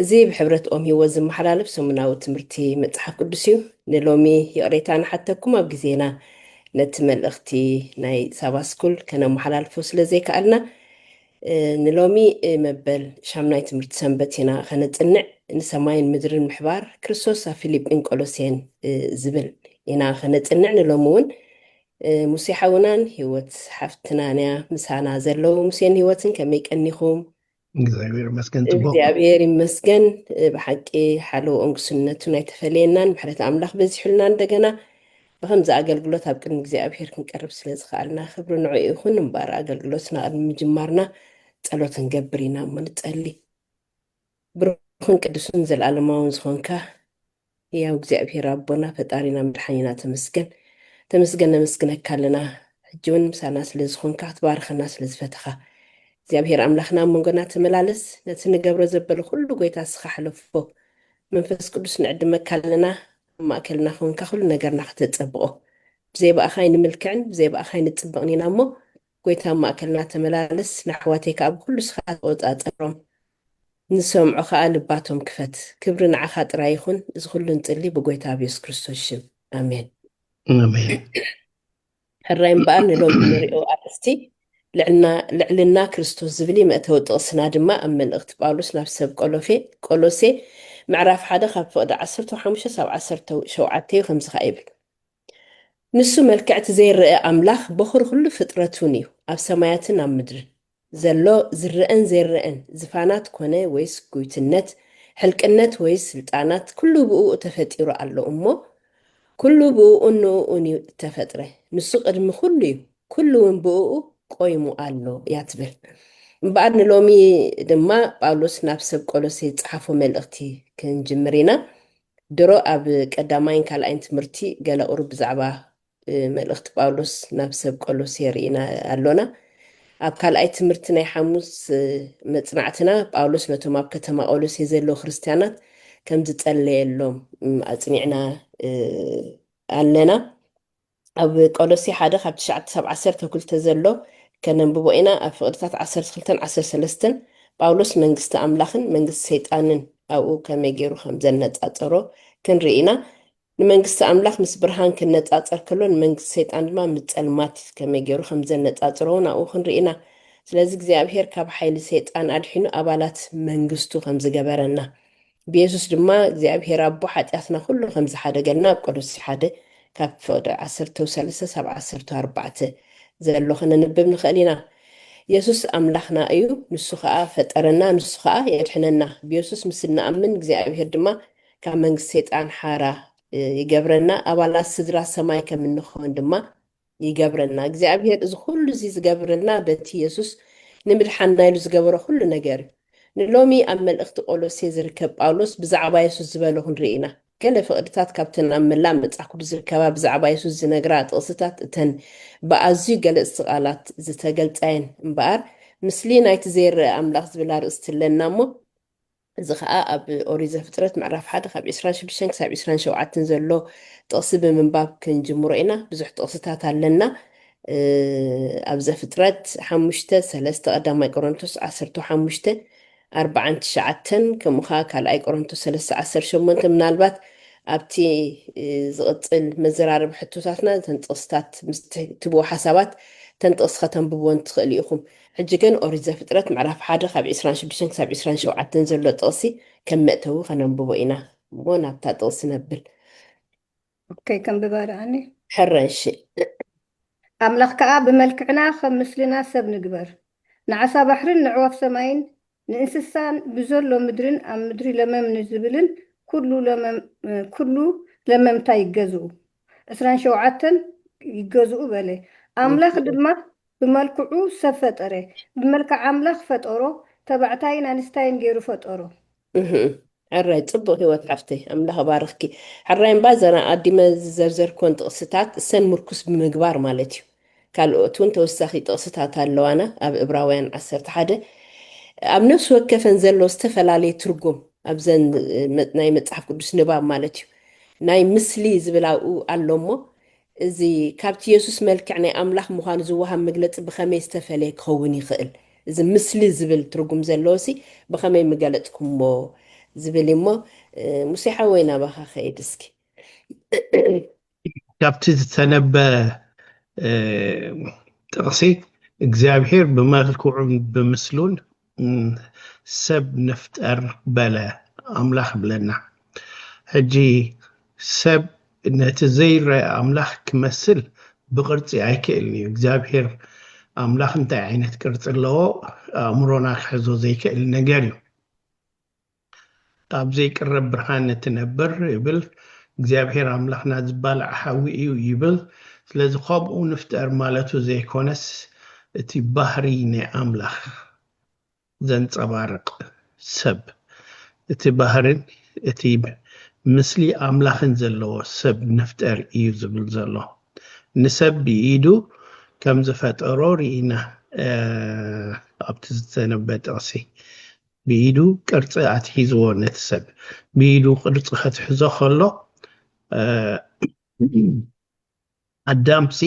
እዚ ብሕብረት ኦም ህይወት ዝመሓላለፍ ሰሙናዊ ትምህርቲ መጽሓፍ ቅዱስ እዩ። ንሎሚ ይቕሬታ ንሓተኩም ኣብ ግዜና ነቲ መልእኽቲ ናይ ሳባ ስኩል ከነመሓላልፎ ስለ ዘይከኣልና ንሎሚ መበል ሻምናይ ትምህርቲ ሰንበት ኢና ከነጽንዕ ንሰማይን ምድርን ምሕባር ክርስቶስ ኣብ ፊልጲን ቆሎሴን ዝብል ኢና ከነጽንዕ ንሎሚ እውን ሙሴ ሓውናን ህይወት ሓፍትናን እያ ምሳና ዘለዉ ሙሴን ህይወትን ከመይ ቀኒኹም እግዚኣብሔር ይመስገን ፅቡቅ እግዚኣብሔር ይመስገን ብሓቂ ሓለውኦም ግስነቱን ኣይተፈለየናን ምሕረት ኣምላኽ በዚሑልና እንደገና ብከምዚ ኣገልግሎት ኣብ ቅድሚ እግዚኣብሔር ክንቀርብ ስለ ዝኸኣልና ክብሪ ንዑ ይኹን እምበር ኣገልግሎትና ቅድሚ ምጅማርና ጸሎት ክንገብር ኢና እሞ ንጸሊ ብሩኽን ቅዱስን ዘለኣለማውን ዝኾንካ ህያው እግዚኣብሄር ኣቦና ፈጣሪና መድሓኒና ተመስገን ተመስገን ነመስግነካ ኣለና ሕጂ ውን ምሳና ስለ ዝኮንካ ክትባርኸና ስለ ዝፈተኻ እግዚኣብሄር ኣምላኽና ኣብ መንጎና ተመላለስ ነቲ ንገብሮ ዘበለ ኩሉ ጎይታ እስኻ ሕለፎ መንፈስ ቅዱስ ንዕድመካ ኣለና ኣብ ማእከልና ኮንካ ኩሉ ነገርና ከተጸብቆ ብዘይ ብኣኻ ኣይንምልክዕን ብዘይ ብኣኻ ኣይንጽብቕን ኢና እሞ ጎይታ ኣብ ማእከልና ተመላለስ ንኣሕዋተይ ከኣ ብኩሉ ንስካ ተቆጻጸሮም ንዝሰምዑ ከኣ ልባቶም ክፈት ክብሪ ንዓካ ጥራይ ይኩን እዚ ኩሉ ንጽሊ ብጎይታ ኣብ የሱስ ክርስቶስ ሽም ኣሜን። ኣሜን። ሕራይ እምበኣር ንሎሚ እንሪኦ ኣርእስቲ ልዕልና ልዕልና ክርስቶስ ዝብል እዩ መእተዊ ጥቕስና ድማ ኣብ መልእኽቲ ጳውሎስ ናብ ሰብ ቆሎፌ ቆሎሴ ምዕራፍ ሓደ ካብ ፍቕዲ ዓሰርተው ሓሙሽተ ሳብ ዓሰርተው ሸውዓተ እዩ ከምዚ ከኣ ይብል ንሱ መልክዕ እቲ ዘይረኣ ኣምላኽ በዅሪ ዅሉ ፍጥረቱን እዩ፣ ኣብ ሰማያትን ኣብ ምድርን ዘሎ ዝረኣን ዘይረኣን ዝፋናት ኰነ ወይስ ጕይትነት፣ ሕልቅነት ወይስ ስልጣናት ኵሉ ብእኡ ተፈጢሩ ኣሎ እሞ፣ ኵሉ ብእኡን ንእኡን እዩ እተፈጥረ፣ ንሱ ቅድሚ ዅሉ እዩ፣ ኵሉ እውን ብእኡ ቈይሙ ኣሎ እያ ትብል። እምበኣር ንሎሚ ድማ ጳውሎስ ናብ ሰብ ቈሎሴ ዝጸሓፎ መልእኽቲ ክንጅምር ኢና። ድሮ ኣብ ቀዳማይን ካልኣይን ትምህርቲ ገለ ቁሩብ ብዛዕባ መልእኽቲ ጳውሎስ ናብ ሰብ ቆሎሴ ርኢና ኣሎና። ኣብ ካልኣይ ትምህርቲ ናይ ሓሙስ መጽናዕትና ጳውሎስ ነቶም ኣብ ከተማ ቆሎሴ ዘለዉ ክርስትያናት ከም ዝጸለየሎም ኣጽኒዕና ኣለና። ኣብ ቆሎሴ ሓደ ካብ ትሽዓተ ክሳብ ዓሰርተው ክልተ ዘሎ ከነንብቦ ኢና፣ ኣብ ፍቅድታት ዓሰርተ ክልተን ዓሰርተ ሰለስተን ጳውሎስ መንግስቲ ኣምላኽን መንግስቲ ሰይጣንን ኣብኡ ከመይ ገይሩ ከም ዘነጻጸሮ ክንርኢ ኢና። ንመንግስቲ ኣምላኽ ምስ ብርሃን ክነጻጸር ከሎ ንመንግስቲ ሰይጣን ድማ ምስ ጸልማት ከመይ ገይሩ ከም ዘነጻጽሮ እውን ኣብኡ ክንርኢ ኢና። ስለዚ እግዚኣብሄር ካብ ሓይሊ ሰይጣን ኣድሒኑ ኣባላት መንግስቱ ከም ዝገበረና ብየሱስ ድማ እግዚኣብሄር ኣቦ ሓጢኣትና ኩሉ ከም ዝሓደገልና ኣብ ቆሎሲ ሓደ ካብ ፍቕዲ ዓሰርተው ሰለሰ ሳብ ዓሰርተው ኣርባዕተ ዘሎ ከነንብብ ንኸእል ኢና። የሱስ ኣምላኽና እዩ፣ ንሱ ኸኣ ፈጠረና፣ ንሱ ኸኣ የድሕነና። ብየሱስ ምስ እንኣምን እግዚኣብሄር ድማ ካብ መንግስቲ ሰይጣን ሓራ ይገብረና፣ ኣባላት ስድራ ሰማይ ከም እንኸውን ድማ ይገብረልና እግዚኣብሄር እዚ ኩሉ እዚ ዝገብርልና በቲ የሱስ ንምድሓንና ኢሉ ዝገበሮ ኩሉ ነገር እዩ። ንሎሚ ኣብ መልእኽቲ ቆሎሴ ዝርከብ ጳውሎስ ብዛዕባ የሱስ ዝበሎ ክንርኢ ኢና። ገለ ፍቕድታት ካብተን ኣብ መላእ መጽሓፍ ቅዱስ ዝርከባ ብዛዕባ የሱስ ዝነግራ ጥቕስታት እተን ብኣዝዩ ገለጽቲ ቃላት ዝተገልጻ እየን። እምበኣር ምስሊ ናይቲ ዘይረኣ ኣምላኽ ዝብል ኣርእስቲ ኣለና እሞ፣ እዚ ኸኣ ኣብ ኦሪት ዘፍጥረት ምዕራፍ ሓደ ካብ ዕስራን ሽዱሽተን ክሳብ ዕስራን ሸውዓተን ዘሎ ጥቕሲ ብምንባብ ክንጅምሮ ኢና። ብዙሕ ጥቕስታት ኣለና። ኣብ ዘፍጥረት ሓሙሽተ ሰለስተ ቀዳማይ ቆሮንቶስ ዓሰርተው ሓሙሽተ ኣርባዓን ትሽዓተን ከምኡ ኸኣ ካልኣይ ቆሮንቶስ ሰለስተ ዓሰርተ ሸሞንተ ምናልባት ኣብቲ ዝቕጽል መዘራረቢ ሕቶታትና እተን ጥቕስታት ምስ ትህብዎ ሓሳባት እተን ጥቕሲ ከተንብብወን ትኽእሉ ኢኹም። ሕጂ ግን ኦሪት ዘፍጥረት ምዕራፍ ሓደ ካብ ዕስራን ሽዱሽተን ክሳብ ዕስራን ሸውዓተን ዘሎ ጥቕሲ ከም መእተዊ ከነንብቦ ኢና እሞ ናብታ ጥቕሲ ነብል። ኦከይ ከንብባ ደኣኒ። ሕረ'ሺ። ኣምላኽ ከኣ ብመልክዕና ኸም ምስልና ሰብ ንግበር፣ ንዓሳ ባሕርን ንዕዋፍ ሰማይን ንእንስሳን ብዘሎ ምድርን ኣብ ምድሪ ለመም ንዝብልን ኵሉ ለመም ኵሉ ለመምታ ይገዝኡ፣ ዕስራን ሸውዓተን ይገዝኡ በለ። ኣምላኽ ድማ ብመልክዑ ሰብ ፈጠረ፣ ብመልክዕ ኣምላኽ ፈጠሮ፣ ተባዕታይን ኣንስታይን ገይሩ ፈጠሮ። እህ ሕራይ ጽቡቅ ሂወት ሓፍተይ ኣምላኽ እባርኽኪ። ሕራይ እምባ ዘና ኣዲመ ዝዘርዘርክወን ጥቅስታት እሰን ሙርኩስ ብምግባር ማለት እዩ ካልኦት እውን ተወሳኪ ጥቅስታት ኣለዋና ኣብ እብራውያን ዓሰርተ ሓደ ኣብ ነፍሲ ወከፈን ዘሎ ዝተፈላለየ ትርጉም ኣብዘን ናይ መጽሓፍ ቅዱስ ንባብ ማለት እዩ ናይ ምስሊ ዝብል ኣብኡ ኣሎ እሞ እዚ ካብቲ የሱስ መልክዕ ናይ ኣምላኽ ምዃኑ ዝወሃብ መግለጺ ብኸመይ ዝተፈልየ ክኸውን ይኽእል? እዚ ምስሊ ዝብል ትርጉም ዘለዎሲ ብኸመይ ምገለጽኩሞ? ዝብል እዩ እሞ፣ ሙሴ ሓወይ ናባኻ ክኸይድ እስኪ። ካብቲ ዝተነበ ጥቕሲ እግዚኣብሄር ብመልክዑን ብምስሉን ሰብ ንፍጠር በለ ኣምላኽ ይብለና ሕጂ ሰብ ነቲ ዘይረኣ ኣምላኽ ክመስል ብቅርጺ ኣይክእልን እዩ እግዚኣብሄር ኣምላኽ እንታይ ዓይነት ቅርጺ ኣለዎ ኣእምሮና ክሕዞ ዘይክእል ነገር እዩ ኣብ ዘይቅረብ ብርሃን እትነብር እብል እግዚኣብሔር ኣምላኽና ዝባላዕ ሓዊ እዩ ይብል ስለዚ ኸምኡ ንፍጠር ማለቱ ዘይኮነስ እቲ ባህርይ ናይ ኣምላኽ ዘንጸባርቅ ሰብ እቲ ባህርን እቲ ምስሊ ኣምላኽን ዘለዎ ሰብ ንፍጠር እዩ ዝብል ዘሎ ንሰብ ብኢዱ ከምዝፈጠሮ ርኢና ኣብቲ ዝተነበ ጥቅሲ ብኢዱ ቅርጺ ኣትሒዝዎ ነቲ ሰብ ብኢዱ ቅርጺ ከትሕዞ ከሎ ኣዳምሲ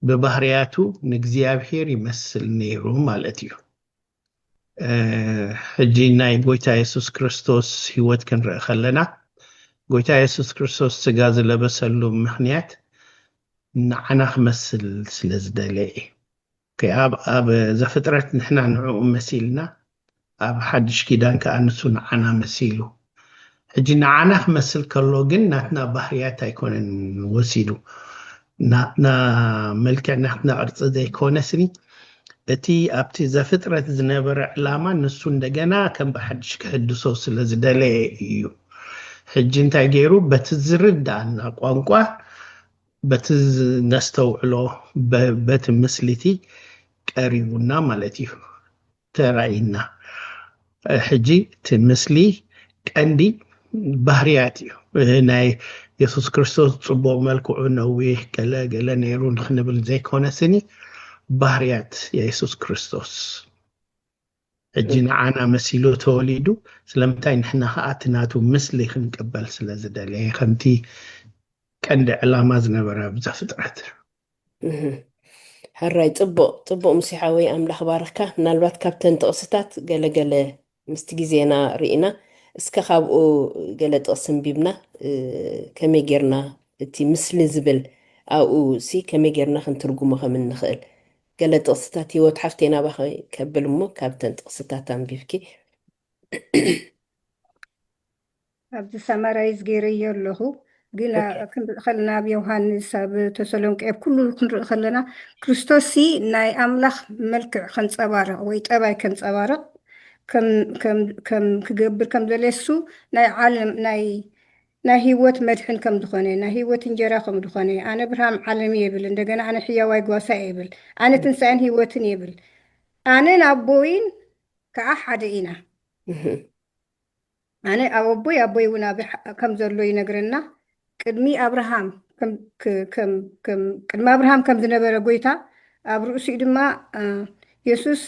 ብባህርያቱ ንእግዚኣብሄር ይመስል ነይሩ ማለት እዩ። ሕጂ ናይ ጎይታ የሱስ ክርስቶስ ህይወት ክንርኢ ከለና ጎይታ የሱስ ክርስቶስ ስጋ ዝለበሰሉ ምክንያት ንዓና ክመስል ስለ ዝደለ እዩ። ከኣ ኣብ ዘፍጥረት ንሕና ንዕኡ መሲልና ኣብ ሓድሽ ኪዳን ከኣ ንሱ ንዓና መሲሉ ሕጂ ንዓና ክመስል ከሎ ግን ናትና ባህርያት ኣይኮነን ወሲዱ ናትና መልክዕ ናትና ቅርጺ ዘይኮነ ስኒ እቲ ኣብቲ ዘፍጥረት ዝነበረ ዕላማ ንሱ እንደገና ከም ብሓድሽ ክሕድሶ ስለ ዝደለየ እዩ ሕጂ እንታይ ገይሩ በቲ ዝርድኣና ቋንቋ በቲ ነስተውዕሎ በቲ ምስሊቲ ቀሪቡና ማለት እዩ ተራእይና ሕጂ እቲ ምስሊ ቀንዲ ባህርያት እዩ ናይ የሱስ ክርስቶስ ጽቡቕ መልክዑ ነዊሕ ገለ ገለ ነይሩ ንክንብል ዘይኮነ ስኒ ባህርያት የሱስ ክርስቶስ ሕጂ ንዓና መሲሉ ተወሊዱ ስለምንታይ ንሕና ከኣ እቲ ናቱ ምስሊ ክንቅበል ስለ ዝደለየ ከምቲ ቀንዲ ዕላማ ዝነበረ ኣብ ዘፍጥረት ሕራይ ጽቡቅ ጽቡቅ ሙሴ ሓወይ ኣምላኽ ባርኽካ ምናልባት ካብተን ጥቕስታት ገለ ገለ ምስቲ ግዜና ርኢና እስከ ካብኡ ገለ ጥቕሲ ኣንቢብና ከመይ ጌርና እቲ ምስሊ ዝብል ኣብኡ ሲ ከመይ ጌርና ክንትርጉሞ ከም እንኽእል ገለ ጥቕስታት ሂወት ሓፍተይ ናባኺ ከብል እሞ ካብተን ጥቕስታት ኣንቢብኪ። ኣብዚ ሳማራይዝ ገይረዮ ኣለኹ ግን ኦኬ ክንርኢ ከለና ኣብ ዮሃንስ ኣብ ተሰሎንቄ ኣብ ኩሉ ክንርኢ ከለና ክርስቶስሲ ናይ ኣምላኽ መልክዕ ከንጸባርቕ ወይ ጠባይ ከንጸባርቕ ከም ከም ከም ክገብር ከም ዘልየሱ ናይ ዓለም ናይ ናይ ሂወት መድሕን ከም ድኾነ ናይ ሂወት እንጀራ ከም ድኾነ ኣነ ብርሃም ዓለም እየ ይብል እንደገና ኣነ ሕያዋይ ጓሳ እየ ይብል ኣነ ትንሳኤን ሂወትን እየ ይብል ኣነን ኣቦይን ከኣ ሓደ ኢና ኣነ ኣብ ኣቦይ ኣቦይ እውን ኣብ ከም ዘሎ ይነግረና ቅድሚ ኣብርሃም ቅድሚ ኣብርሃም ከም ዝነበረ ጎይታ ኣብ ርእሲኡ ድማ የሱስ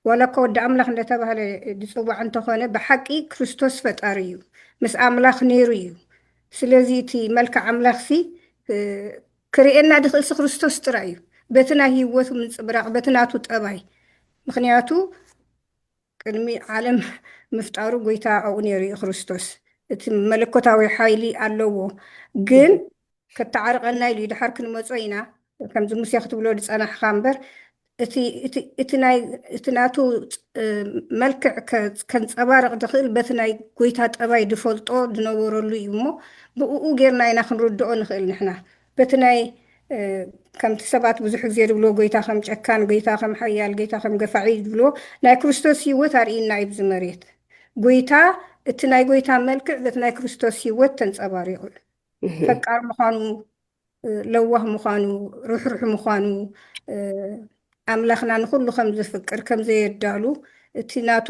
ዋላ እኳ ወዲ ኣምላኽ እንደተባህለ ዝጽዋዕ እንተኾነ ብሓቂ ክርስቶስ ፈጣሪ እዩ ምስ ኣምላኽ ነይሩ እዩ ስለዚ እቲ መልክዕ ኣምላኽሲ ክርእየና ዝኽእልሲ ክርስቶስ ጥራይ እዩ በቲ ናይ ህይወቱ ምንጽብራቕ በቲ ናቱ ጠባይ ምኽንያቱ ቅድሚ ዓለም ምፍጣሩ ጎይታ ኣብኡ ነይሩ እዩ ክርስቶስ እቲ መለኮታዊ ሓይሊ ኣለዎ ግን ከታዓርቀና ኢሉ ዩ ዳሓር ክንመጾ ኢና ከምዚ ሙሴ ክትብሎ ዝጸናሕካ እምበር እቲ እቲ ናቱ መልክዕ ከንጸባርቅ ዝክእል በቲ ናይ ጎይታ ጠባይ ዝፈልጦ ዝነበረሉ ዩ እሞ ብኡኡ ጌርና ኢና ክንርድኦ ንክእል ንሕና በቲ ናይ ከምቲ ሰባት ብዙሕ ግዜ ዝብልዎ ጎይታ ከም ጨካን ጎይታ ከም ሓያል ጎይታ ከም ገፋዒ ዩ ዝብልዎ ናይ ክርስቶስ ሂወት ኣርእይና ዩ ብዚ መሬት ጎይታ እቲ ናይ ጎይታ መልክዕ በቲ ናይ ክርስቶስ ሂወት ተንጸባሪቁ ዩ ፈቃር ምዃኑ ለዋህ ምዃኑ ርሕሩሕ ምዃኑ ኣምላኽና ንኹሉ ከም ዝፍቅር ከም ዘየዳሉ እቲ ናቱ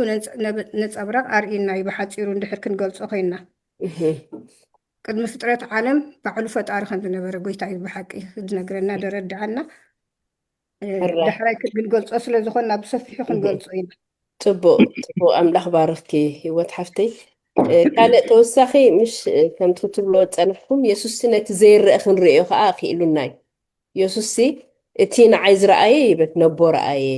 ነፀብራቕ ኣርእና እዩ ብሓፂሩ እንድሕር ክንገልፆ ኮይና ቅድሚ ፍጥረት ዓለም ባዕሉ ፈጣሪ ከም ዝነበረ ጎይታ እዩ ብሓቂ ዝነግረና ደረድዓና ዳሕራይ ክንገልፆ ስለ ዝኾንና ብሰፊሑ ክንገልፆ ኢና ፅቡቅ ፅቡቅ ኣምላኽ ባርኽኪ ህይወት ሓፍተይ ካልእ ተወሳኺ ምሽ ከምቲ ክትብሎ ዝፀናሕኩም የሱስሲ ነቲ ዘይረአ ክንርእዮ ከዓ ክኢሉና እዩ የሱስሲ እቲ ንዓይ ዝረኣየ ይብል ነቦ ረኣየ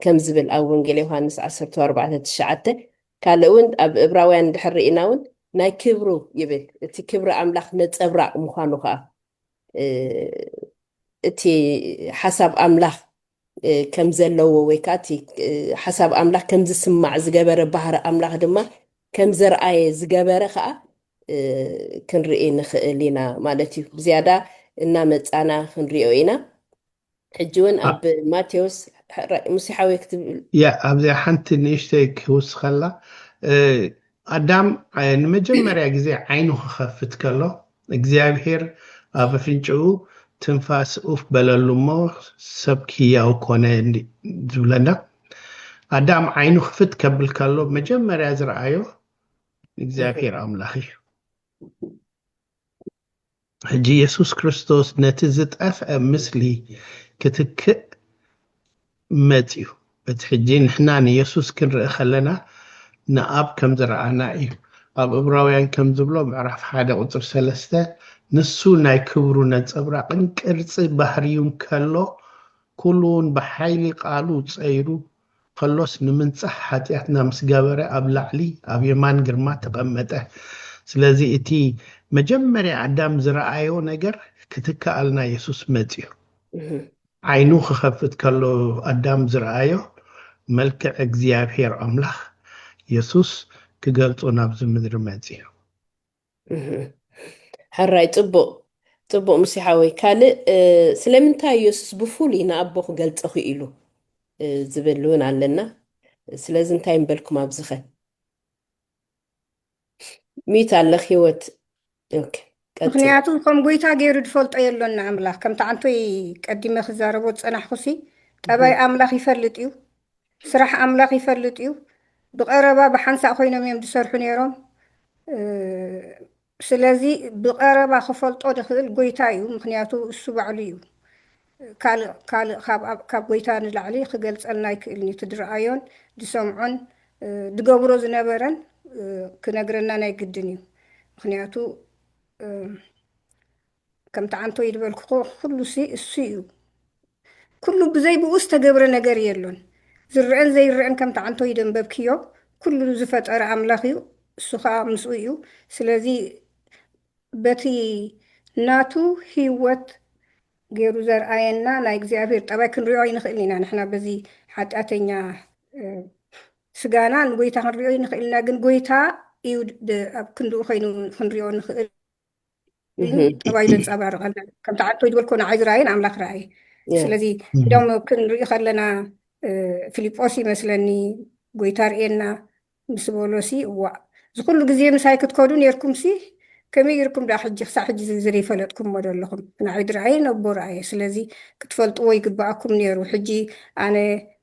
ከም ዝብል ኣብ ወንጌል ዮሃንስ 14:9 ካልእ እውን ኣብ እብራውያን ድሕር ርኢና እውን ናይ ክብሩ ይብል እቲ ክብሪ ኣምላኽ ነፀብራቕ ምዃኑ ከዓ እቲ ሓሳብ ኣምላኽ ከም ዘለዎ ወይ ከዓ እቲ ሓሳብ ኣምላኽ ከም ዝስማዕ ዝገበረ ባህሪ ኣምላኽ ድማ ከም ዘርኣየ ዝገበረ ከዓ ክንርኢ ንኽእል ኢና ማለት እዩ። ብዝያዳ እናመፃና ክንሪኦ ኢና። ሕጂ እውን ኣብ ማቴዎስ ሙሴ ሓወይ ክትብል ያ ኣብዚኣ ሓንቲ ንእሽተይ ክውስኸላ ኣዳም ንመጀመርያ ግዜ ዓይኑ ክኸፍት ከሎ እግዚኣብሄር ኣብ ኣፍንጭኡ ትንፋስ ኡፍ በለሉ እሞ ሰብ ክያው ኮነ ዝብለና ኣዳም ዓይኑ ክፍት ከብል ከሎ መጀመርያ ዝረኣዮ እግዚኣብሄር ኣምላኽ እዩ ሕጂ የሱስ ክርስቶስ ነቲ ዝጠፍአ ምስሊ ክትክእ መጺኡ። እቲ ሕጂ ንሕና ንየሱስ ክንርኢ ከለና ንኣብ ከም ዝረኣና እዩ። ኣብ እብራውያን ከም ዝብሎ ምዕራፍ ሓደ ቁጽሪ ሰለስተ ንሱ ናይ ክብሩ ነጸብራቕን ቅርጺ ባህርዩን ከሎ ኩሉውን ብሓይሊ ቃሉ ጸይሩ ከሎስ ንምንጻህ ሓጥያትና ምስ ገበረ ኣብ ላዕሊ ኣብ የማን ግርማ ተቀመጠ ስለዚ እቲ መጀመርያ ኣዳም ዝረኣዮ ነገር ክትከኣልና የሱስ መጽዩ ዓይኑ ክኸፍት ከሎ ኣዳም ዝረኣዮ መልክዕ እግዚኣብሄር ኣምላኽ የሱስ ክገልጾ ናብዚ ምድሪ መጽዩ። ሕራይ ጽቡቕ ጽቡቕ ምስ ሓወይ ካልእ ስለምንታይ ኢየሱስ ብፍሉይ ንኣቦ ክገልጾ ክኢሉ ዝብል እውን ኣለና ስለዚ እንታይ ምበልኩም ኣብዝኸ ሚት ኣለኽ ህይወት ምክንያቱ ከም ጎይታ ገይሩ ዝፈልጦ የሎን ንኣምላኽ ከምቲ ዓንቶይ ቀዲመ ክዛረቦ ዝፀናሕኩሲ ጠባይ ኣምላኽ ይፈልጥ እዩ ስራሕ ኣምላኽ ይፈልጥ እዩ። ብቐረባ ብሓንሳእ ኮይኖም እዮም ዝሰርሑ ነይሮም። ስለዚ ብቐረባ ክፈልጦ ዝኽእል ጎይታ እዩ፣ ምኽንያቱ እሱ ባዕሉ እዩ። ካልእ ካልእ ካብ ጎይታ ንላዕሊ ክገልጸልና ኣይክእልን እዩ። እቲ ዝረኣዮን ዝሰምዖን ዝገብሮ ዝነበረን ክነግረና ናይ ግድን እዩ። ምኽንያቱ ከምቲ ዓንቶይ ዝበልክዎ ኩሉሲ እሱ እዩ ኩሉ ብዘይ ብኡ ዝተገብረ ነገር የሎን ዝረኣን ዘይረኣን ከምቲ ዓንቶይ ደንበብክዮ ኩሉ ዝፈጠረ ኣምላኽ እዩ እሱ ከኣ ምስኡ እዩ ስለዚ በቲ ናቱ ህይወት ገይሩ ዘርኣየና ናይ እግዚኣብሔር ጠባይ ክንሪኦ ኣይንኽእልን ኢና ንሕና በዚ ሓጢኣተኛ ስጋና ንጎይታ ክንሪኦ ኣይንኽእል ኢና ግን ጎይታ እዩ ኣብ ክንድኡ ኮይኑ ክንሪኦ ንኽእል ጠባይ ዘንፀባርቀልና ከምቲ ዓቶ ዝበልኮ ንዓይ ዝረኣየን ኣምላኽ ረኣየ ስለዚ እዶም ክንርኢ ከለና ፊልጶስ ይመስለኒ ጎይታ ርእየና ምስ በሎሲ እዋእ ዝኩሉ ግዜ ምሳይ ክትከዱ ነርኩምሲ ከመይ ይርኩም ዳ ሕጂ ክሳዕ ሕጂ ዝዘይፈለጥኩሞ ዘለኹም ንዓይ ድረኣየ ነቦ ረኣየ ስለዚ ክትፈልጥዎ ይግበኣኩም ነይሩ ሕጂ ኣነ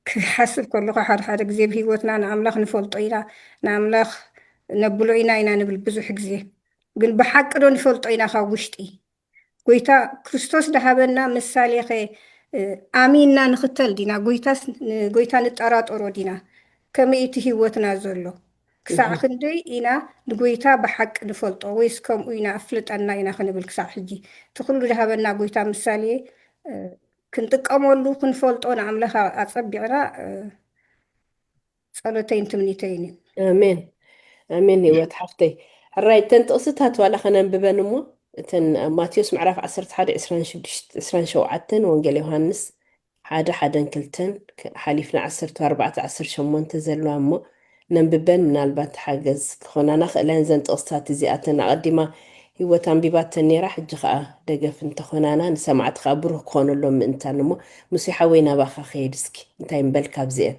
ክሓስብ ከለኹ ሓደ ሓደ ግዜ ብሂወትና ንኣምላኽ ንፈልጦ ኢና ንኣምላኽ ነብሎ ኢና ኢና ንብል ብዙሕ ግዜ ግን ብሓቂ ዶ ንፈልጦ ኢና ካብ ውሽጢ? ጎይታ ክርስቶስ ድሃበና ምሳሌኸ ኣሚንና ንኽተል ዲና ጎይታስ ንጎይታ ንጠራጠሮ ዲና? ከመይ እቲ ሕይወትና ዘሎ? ክሳዕ ክንደይ ኢና ንጎይታ ብሓቂ ንፈልጦ ወይስ ከምኡ ኢና ኣፍልጠና ኢና ክንብል ክሳዕ ሕጂ እቲ ኩሉ ድሃበና ጎይታ ምሳሌ ክንጥቀመሉ ክንፈልጦ ንኣምላኽ ኣጸቢቕና ጸሎተይን ትምኒተይን እዩ። ኣሜን ኣሜን ህይወት ሓፍተይ ሕራይ እተን ጥቕስታት ዋላ ከነንብበን እሞ እተን ኣብ ማቴዎስ ምዕራፍ 11 26 27 ወንጌል ዮሃንስ ሓደ ሓደን ክልተን ከ- ሓሊፍና 14 18 ዘለዋ እሞ ነንብበን ምናልባት ሓገዝ ክኾናና ክእለን እዘን ጥቕስታት እዚኣተን ኣቐዲማ ህይወት ኣንቢባተን ነይራ ሕጂ ከዓ ደገፍ እንተኾናና ንሰማዕቲ ከዓ ብሩህ ክኾነሎም ምእንታን እሞ ሙሴ ሓወይ ናባኻ ክሄድ እስኪ እንታይ ምበል ካብዚአን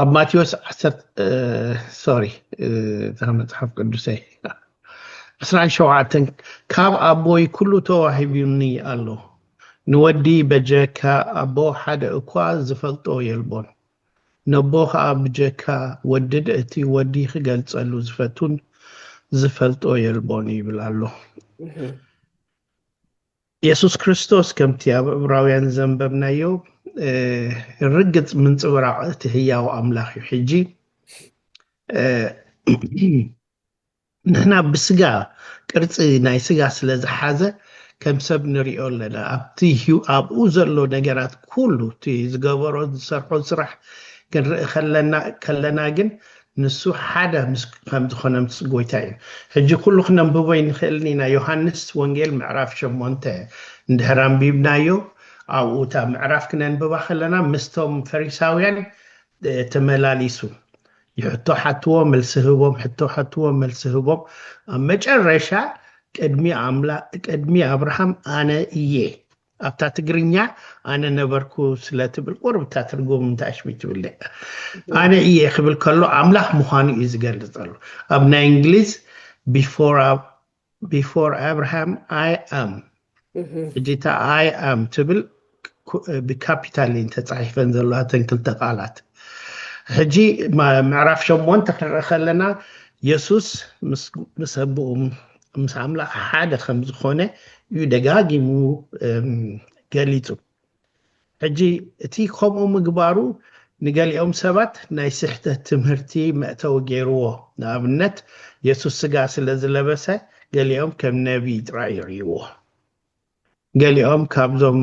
ኣብ ማቴዎስ ዓሰርተ ሶሪ እታ መጽሓፍ ቅዱሰይ ዕስራን ሸውዓተን ካብ ኣቦይ ኩሉ ተዋሂቡኒ ኣሎ ንወዲ በጀካ ኣቦ ሓደ እኳ ዝፈልጦ የልቦን ነቦ ከዓ ብጀካ ወድድ እቲ ወዲ ክገልጸሉ ዝፈቱን ዝፈልጦ የልቦን ይብል ኣሎ የሱስ ክርስቶስ ከምቲ ኣብ ዕብራውያን ዘንበብናዮ ርግጽ ምንጽብራቕ እቲ ህያው ኣምላኽ እዩ። ሕጂ ንሕና ብስጋ ቅርጺ ናይ ስጋ ስለ ዝሓዘ ከም ሰብ ንሪኦ ኣለና ኣብቲ ኣብኡ ዘሎ ነገራት ኩሉ እቲ ዝገበሮ ዝሰርሖ ስራሕ ክንርኢ ከለና ግን ንሱ ሓደ ምስ ከም ዝኾነ ምስ ጎይታ እዩ። ሕጂ ኩሉ ክነንብቦ ኣይንክእልን ኢና ዮሃንስ ወንጌል ምዕራፍ ሸሞንተ እንድሕር ኣንቢብናዮ ኣብኡ እታ ምዕራፍ ክነንብባ ከለና ምስቶም ፈሪሳውያን ተመላሊሱ ሕቶ ሓትዎ መልሲ ህቦም ሕቶ ሓትዎ መልሲ ህቦም ኣብ መጨረሻ ቅድሚ ኣምላ ቅድሚ ኣብርሃም ኣነ እየ ኣብታ ትግርኛ ኣነ ነበርኩ ስለ ትብል ቁርብ እታ ትርጉም እንታይ ኣሽቢ ትብል ኣነ እየ ክብል ከሎ ኣምላኽ ምዃኑ እዩ ዝገልጽ ዘሎ ኣብ ናይ እንግሊዝ ቢፎር ኣብርሃም ኣይ ኣም እጅታ ኣይ ኣም ትብል ብካፒታል እየን ተፃሒፈን ዘለዋ እተን ክልተ ቃላት ሕጂ ምዕራፍ ሸሞንተ ክንርኢ ከለና የሱስ ምስ ኣቦኡ ምስ ኣምላኽ ሓደ ከም ዝኾነ እዩ ደጋጊሙ ገሊጹ። ሕጂ እቲ ከምኡ ምግባሩ ንገሊኦም ሰባት ናይ ስሕተት ትምህርቲ መእተዊ ገይርዎ። ንኣብነት የሱስ ስጋ ስለ ዝለበሰ ገሊኦም ከም ነብዪ ጥራይ ይርእይዎ። ገሊኦም ካብዞም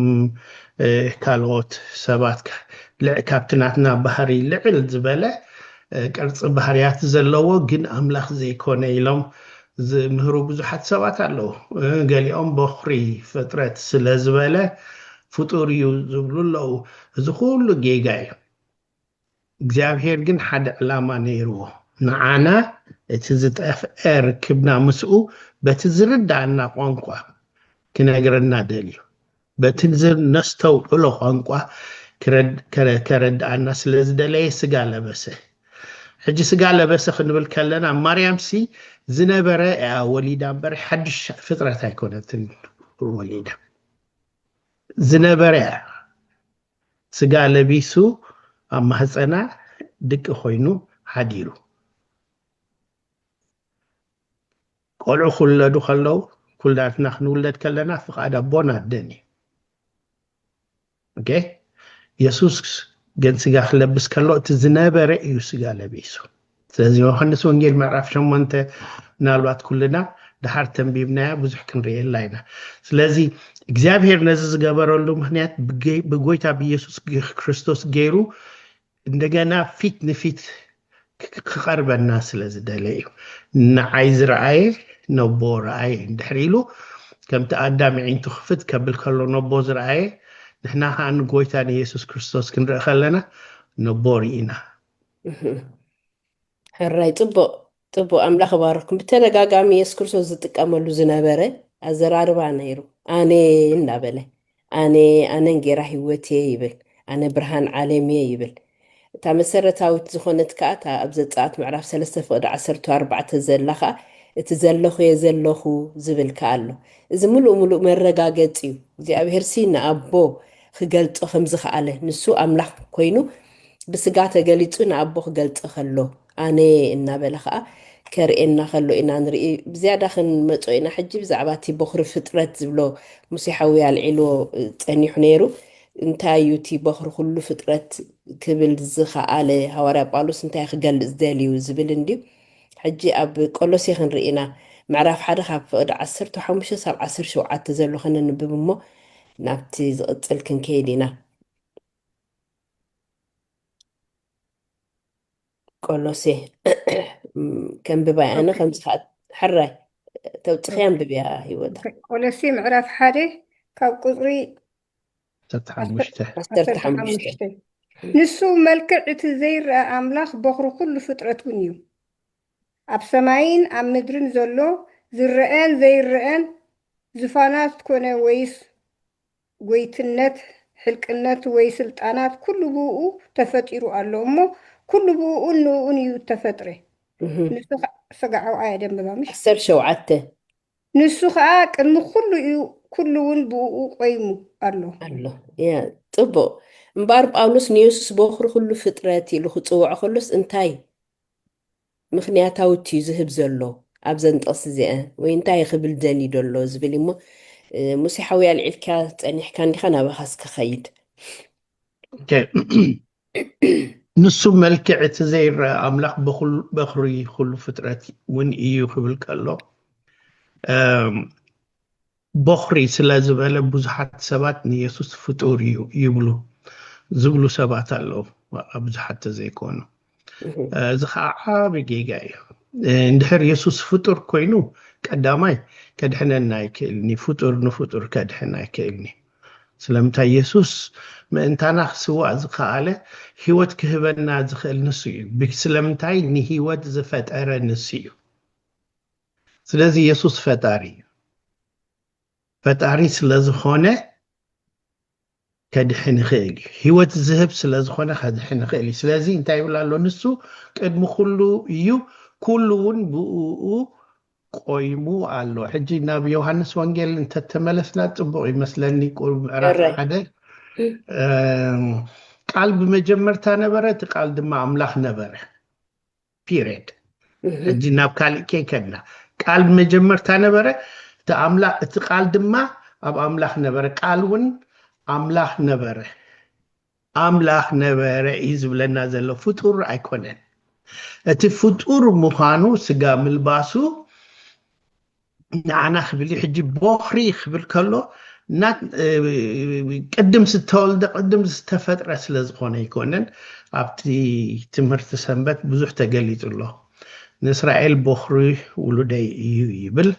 ካልኦት ሰባት ካብቲ ናትና ባህሪ ልዕል ዝበለ ቅርጺ ባህርያት ዘለዎ ግን ኣምላኽ ዘይኮነ ኢሎም ዝምህሩ ብዙሓት ሰባት ኣለዉ። ገሊኦም በዅሪ ፍጥረት ስለ ዝበለ ፍጡር እዩ ዝብሉ ኣለዉ። እዚ ዅሉ ጌጋ እዩ። እግዚኣብሄር ግን ሓደ ዕላማ ነይርዎ። ንዓና እቲ ዝጠፍኤ ርክብና ምስኡ በቲ ዝርድኣና ቋንቋ ክነግረና ደልዩ። በቲ ነስተውዕሎ ቋንቋ ከረድኣና ስለ ዝደለየ ስጋ ለበሰ። ሕጂ ስጋ ለበሰ ክንብል ከለና ማርያምሲ ዝነበረ እያ ወሊዳ እምበር ሓድሽ ፍጥረት ኣይኮነትን ወሊዳ። ዝነበረ እያ። ስጋ ለቢሱ ኣብ ማህጸና ድቂ ኮይኑ ሓዲሩ። ቆልዑ ክውለዱ ከለው ኩላትና ክንውለድ ከለና ፍቓድ ኣቦን ኣደን እዩ። ኦኬ የሱስ ግን ስጋ ክለብስ ከሎ እቲ ዝነበረ እዩ ስጋ ለቢሱ። ስለዚ ዮሃንስ ወንጌል ምዕራፍ ሸሞንተ ምናልባት ኩልና ድሓር ተንቢብናያ ብዙሕ ክንርእየላ ኢና ስለዚ እግዚኣብሄር ነዚ ዝገበረሉ ምክንያት ብጎይታ ብኢየሱስ ክርስቶስ ገይሩ እንደገና ፊት ንፊት ክቐርበና ስለ ዝደለ እዩ ንዓይ ዝረኣየ ነቦ ረኣየ እንድሕር ኢሉ ከምቲ ኣዳም ዒንቱ ክፍት ከብል ከሎ ነቦ ዝረኣየ ንሕና ከዓ ንጎይታ ንየሱስ ክርስቶስ ክንርኢ ከለና ነቦ ርኢና ሕራይ ፅቡቅ ፅቡቅ ኣምላኽ ባረኩም ብተደጋጋሚ የሱስ ክርስቶስ ዝጥቀመሉ ዝነበረ ኣዘራርባ ነይሩ ኣነ እናበለ ኣነ ኣነ እንጌራ ህይወት እየ ይብል ኣነ ብርሃን ዓለም እየ ይብል እታ መሰረታዊት ዝኾነት ከዓ እታ ኣብ ዘፀኣት ምዕራፍ 3 ፍቅዲ 14 ዘላ ከዓ እቲ ዘለኹ እየ ዘለኹ ዝብል ከዓ ኣሎ እዚ ምሉእ ምሉእ መረጋገፂ እዩ እግዚኣብሄርሲ ንኣቦ ክገልፆ ከም ዝኸኣለ ንሱ ኣምላኽ ኮይኑ ብስጋ ተገሊጹ ንኣቦ ክገልጸ ከሎ ኣነ እናበለ ከኣ ከርእየና ከሎ ኢና ንርኢ ብዝያዳ ክንመጾ ኢና ሕጂ ብዛዕባ እቲ ቦኽሪ ፍጥረት ዝብሎ ሙሴ ሓውይ ኣልዒልዎ ጸኒሑ ነይሩ እንታይ እዩ እቲ ቦኽሪ ኩሉ ፍጥረት ክብል ዝኸኣለ ሃዋርያ ጳውሎስ እንታይ ክገልጽ ደልዩ ዝብል እንድዩ ሕጂ ኣብ ቆሎሴ ክንርኢ ኢና ምዕራፍ ሓደ ካብ ፍቕዲ ዓሰርተ ሓሙሽተ ሳብ ዓሰርተ ሸውዓተ ዘሎ ከነንብብ እሞ ናብቲ ዝቕጽል ክንከይድ ኢና ቆሎሴ ከንብባይ ኣነ ከም ዝሓት ሕራይ ተውፅኺ ኣንብብያ ሂወታ ቆሎሴ ምዕራፍ ሓደ ካብ ቁፅሪ ዓሰርተ ሓሙሽተ ንሱ መልክዕ እቲ ዘይረአ ኣምላኽ በኹሪ ኩሉ ፍጥረት እውን እዩ ኣብ ሰማይን ኣብ ምድርን ዘሎ ዝረአን ዘይረአን ዝፋናት ኮነ ወይስ ጎይትነት፣ ሕልቅነት ወይ ስልጣናት ኩሉ ብእኡ ተፈጢሩ ኣሎ እሞ ኩሉ ብእኡን ንእኡን እዩ እተፈጥረ። ንሱ ኸ ሰጋዕውዓ እያ ደንበባ ምሽ? ዓሰርተ ሸውዓተ። ንሱ ኸኣ ቅድሚ ኩሉ እዩ ኩሉውን ብእኡ ቆይሙ ኣሎ። ኣሎ ያ ጽቡቕ እምበኣር ጳውሎስ ንየሱስ ቦኽሪ ኩሉ ፍጥረት ኢሉ ክጽውዖ ከሎስ እንታይ ምኽንያታዊት እዩ ዝህብ ዘሎ ኣብዘን ጥቕሲ እዚኣን ወይ እንታይ ክብል ደልዩ ዶ ኣሎ ዝብል እዩሞ ሙሴ ሓወይ ኣልዒልካ ጸኒሕካ እንዲኻ ናባኻ እስከ ኸይድ ንሱ መልክዕ እቲ ዘይረአ ኣምላኽ በኹሪ ኩሉ ፍጥረት እውን እዩ ክብል ከሎ ቦኽሪ ስለ ዝበለ ብዙሓት ሰባት ንየሱስ ፍጡር እዩ ይብሉ ዝብሉ ሰባት ኣለዉ፣ ዋላ ብዙሓት ተዘይኮኑ። እዚ ኸኣ ዓቢ ጌጋ እዩ። እንድሕር የሱስ ፍጡር ኮይኑ ቀዳማይ ከድሕነና ኣይክእልን እዩ፣ ፍጡር ንፍጡር ከድሕን ኣይክእልን እዩ። ስለምንታይ የሱስ ምእንታና ክስዋእ ዝኸኣለ ህይወት ክህበና ዝኽእል ንሱ እዩ። ስለምንታይ ንህይወት ዝፈጠረ ንሱ እዩ። ስለዚ የሱስ ፈጣሪ እዩ። ፈጣሪ ስለ ዝኾነ ከድሕን ይኽእል እዩ። ህይወት ዝህብ ስለ ዝኾነ ከድሕን ይኽእል እዩ። ስለዚ እንታይ ይብል ኣሎ? ንሱ ቅድሚ ኩሉ እዩ፣ ኩሉ እውን ብእኡ ቆይሙ ኣሎ። ሕጂ ናብ ዮሃንስ ወንጌል እንተተመለስና ጽቡቕ ይመስለኒ ቁሩብ ምዕራፍ እረይ ሓደ እም፣ ቃል ብመጀመርታ ነበረ፣ እቲ ቃል ድማ ኣምላኽ ነበረ። ፒሬድ ሕጂ ናብ ካልእ ከይከድና ቃል መጀመርታ ነበረ እቲ ኣምላኽ እቲ ቃል ድማ ኣብ ኣምላኽ ነበረ ቃል እውን ኣምላኽ ነበረ ኣምላኽ ነበረ እዩ ዝብለና ዘሎ ፍጡር ኣይኮነን እቲ ፍጡር ምዃኑ ስጋ ምልባሱ ንዓና ክብል እዩ ሕጂ ቦኽሪ ክብል ከሎ ቅድም ዝተወልደ ቅድም ዝተፈጥረ ስለ ዝኾነ ኣይኮነን ኣብቲ ትምህርቲ ሰንበት ብዙሕ ተገሊጹ ኣሎ ንእስራኤል ቦኽሪ ውሉደይ እዩ ይብል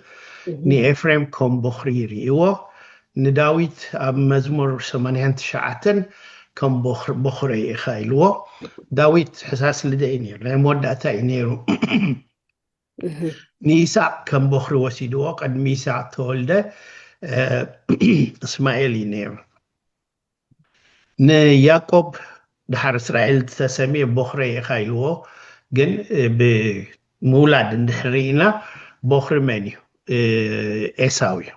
ንኤፍሬም ከም ቦኽሪ ይርእይዎ ንዳዊት ኣብ መዝሙር 89 ከም ቦኽረ ኢኻ ኢልዎ ዳዊት ሕሳስ ልደ እዩ ነይሩ ናይ መወዳእታ እዩ ነይሩ ንይስሃቅ ከም ቦኽሪ ወሲድዎ ቅድሚ ይስሃቅ ተወልደ እስማኤል እዩ ነይሩ ንያቆብ ድሓር እስራኤል ዝተሰምየ ቦኽረይ ኢኻ ኢልዎ ግን ብምውላድ እንድሕር ኢና ቦኽሪ መን እዩ ኤሳው እዩ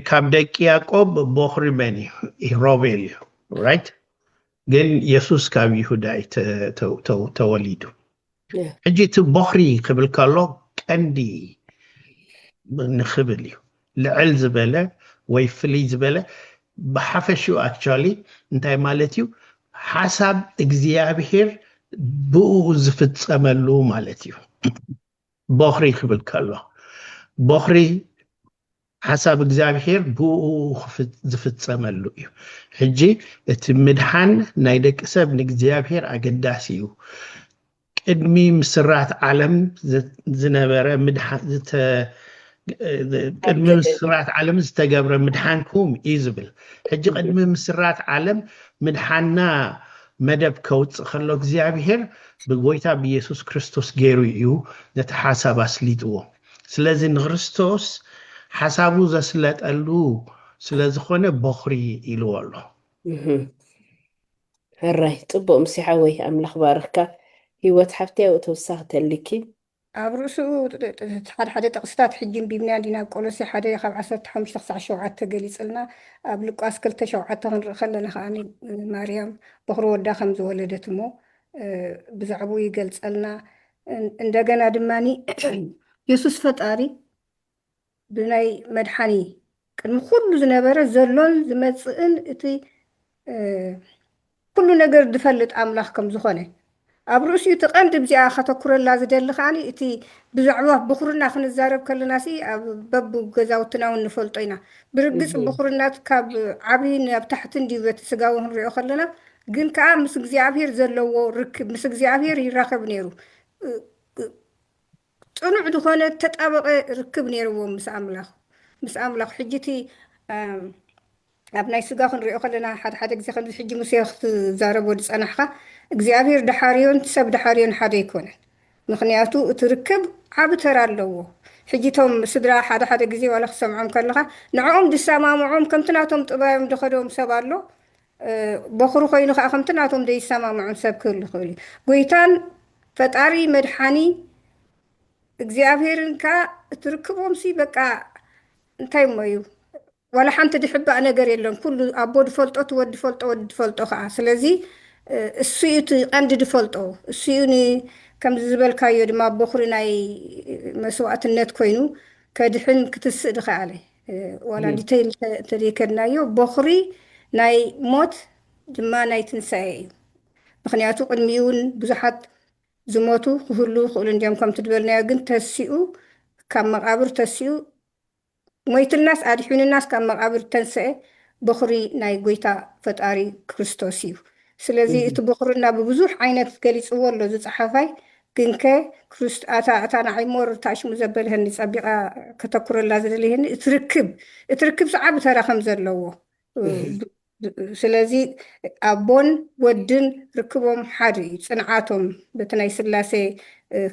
ካብ ደቂ ያቆብ ቦኽሪ መን እዩ ሮቤል እዩ ራይት ግን የሱስ ካብ ይሁዳ እዩ ተወሊዱ ሕጂ እቲ ቦኽሪ ክብል ከሎ ቀንዲ ንክብል እዩ ልዕል ዝበለ ወይ ፍልይ ዝበለ ብሓፈሽኡ ኣክቹዋሊ እንታይ ማለት እዩ ሓሳብ እግዚኣብሄር ብኡ ዝፍፀመሉ ማለት እዩ ቦኽሪ ክብል ከሎ ቦኽሪ ሓሳብ እግዚኣብሄር ብእኡ ዝፍጸመሉ እዩ። ሕጂ እቲ ምድሓን ናይ ደቂ ሰብ ንእግዚኣብሄር ኣገዳሲ እዩ። ቅድሚ ምስራት ዓለም ዝነበረ ቅድሚ ምስራት ዓለም ዝተገብረ ምድሓንኩም እዩ ዝብል ሕጂ ቅድሚ ምስራት ዓለም ምድሓና መደብ ከውፅእ ከሎ እግዚኣብሄር ብጎይታ ብየሱስ ክርስቶስ ገይሩ እዩ ነቲ ሓሳብ ኣስሊጥዎ ስለዚ ንክርስቶስ ሓሳቡ ዘስለጠሉ ስለ ዝኾነ ቦኽሪ ኢልዎ ኣሎ። ሕራይ ጽቡቅ ምስ ሓወይ ኣምላኽ ባርኽካ ሂወት ሓፍተይ ኣብኡ ተወሳኺ ተሊኪ። ኣብ ርእሱኡ ሓደ ሓደ ጥቕስታት ሕጂ እንቢብናዮ እንዲና ኣብ ቆሎሴ ሓደ ካብ ዓሰርተ ሓሙሽተ ክሳዕ ሸውዓተ ገሊጽልና ኣብ ሉቃስ ክልተ ሸውዓተ ክንርኢ ከለና ከኣ ማርያም ቦኽሪ ወዳ ከም ዝወለደት እሞ ብዛዕብኡ ይገልጸልና እንደገና ድማ የሱስ ፈጣሪ ብናይ መድሓኒ ቅድሚ ኩሉ ዝነበረ ዘሎን ዝመፅእን እቲ ኩሉ ነገር ዝፈልጥ ኣምላኽ ከም ዝኾነ ኣብ ርእሲኡ እቲ ቀንዲ ብዚኣ ከተኩረላ ዝደሊ ከዓ እቲ ብዛዕባ ብኩርና ክንዛረብ ከለና ሲ ኣብ በብ ገዛውትና እውን ንፈልጦ ኢና ብርግፅ ብኩርናት ካብ ዓብይ ናብ ታሕቲ እንዲዩ በቲ ስጋዊ ክንሪኦ ከለና ግን ከኣ ምስ እግዚኣብሄር ዘለዎ ርክብ ምስ እግዚኣብሄር ይራኸብ ነይሩ። ጽኑዕ ዝኾነ ተጣበቐ ርክብ ነይርዎም ምስ ኣምላኽ ምስ ኣምላኽ ሕጂ እቲ ኣብ ናይ ስጋ ክንሪኦ ከለና ሓደ ሓደ ግዜ ከምዚ ሕጂ ሙሴ ክትዛረቦ ዝጸናሕካ እግዚኣብሄር ድሓርዮን ሰብ ድሓርዮን ሓደ ኣይኮነን። ምክንያቱ እቲ ርክብ ዓቢ ተራ ኣለዎ። ሕጂ እቶም ስድራ ሓደ ሓደ ግዜ ዋላ ክትሰምዖም ከለኻ ንዕኦም ዝሰማምዖም ከምቲ ናቶም ጥባዮም ዝኸዶም ሰብ ኣሎ በዅሪ ዀይኑ ኸኣ ኸምቲ ናቶም ዘይሰማምዖም ሰብ ክህሉ ይኽእል እዩ። ጐይታን ፈጣሪ መድሓኒ እግዚኣብሄርን ከኣ እቲ ርክቦምሲ በቃ እንታይ እሞ እዩ ዋላ ሓንቲ ዝሕባእ ነገር የለን ኩሉ ኣቦ ዝፈልጦ እቲ ወዲ ዝፈልጦ ወዲ ዝፈልጦ ከኣ ስለዚ እሱ እዩ እቲ ቀንዲ ዝፈልጦ እሱ እዩ ን ከምዚ ዝበልካዮ ድማ በዅሪ ናይ መስዋእትነት ኰይኑ ከድሕን ክትስእ ዝኸኣለ ዋላ ዲተይል እንተዘይከድናዮ ቦኽሪ ናይ ሞት ድማ ናይ ትንሳኤ እዩ ምክንያቱ ቅድሚውን ብዙሓት ዝሞቱ ክህሉ ይኽእሉ እንዲዮም ከምቲ ዝበልናዮ ግን ተሲኡ ካብ መቓብር ተሲኡ ሞይትናስ ኣድሒኑናስ ካብ መቓብር ተንስኤ ቦኽሪ ናይ ጎይታ ፈጣሪ ክርስቶስ እዩ ስለዚ እቲ ቦኽርና ብብዙሕ ዓይነት ገሊፅዎ ኣሎ ዝፀሓፋይ ግንከ ክሩስት ኣታ ኣታ ንዓይ ሞር እታ ሽሙ ዘበልሀኒ ጸቢቀ ከተኩረላ ዝደልየኒ እቲ ርክብ እቲ ርክብ ዝዓቢ ተራ ከም ዘለዎ ስለዚ ኣቦን ወድን ርክቦም ሓድ እዩ ጽንዓቶም በቲ ናይ ስላሴ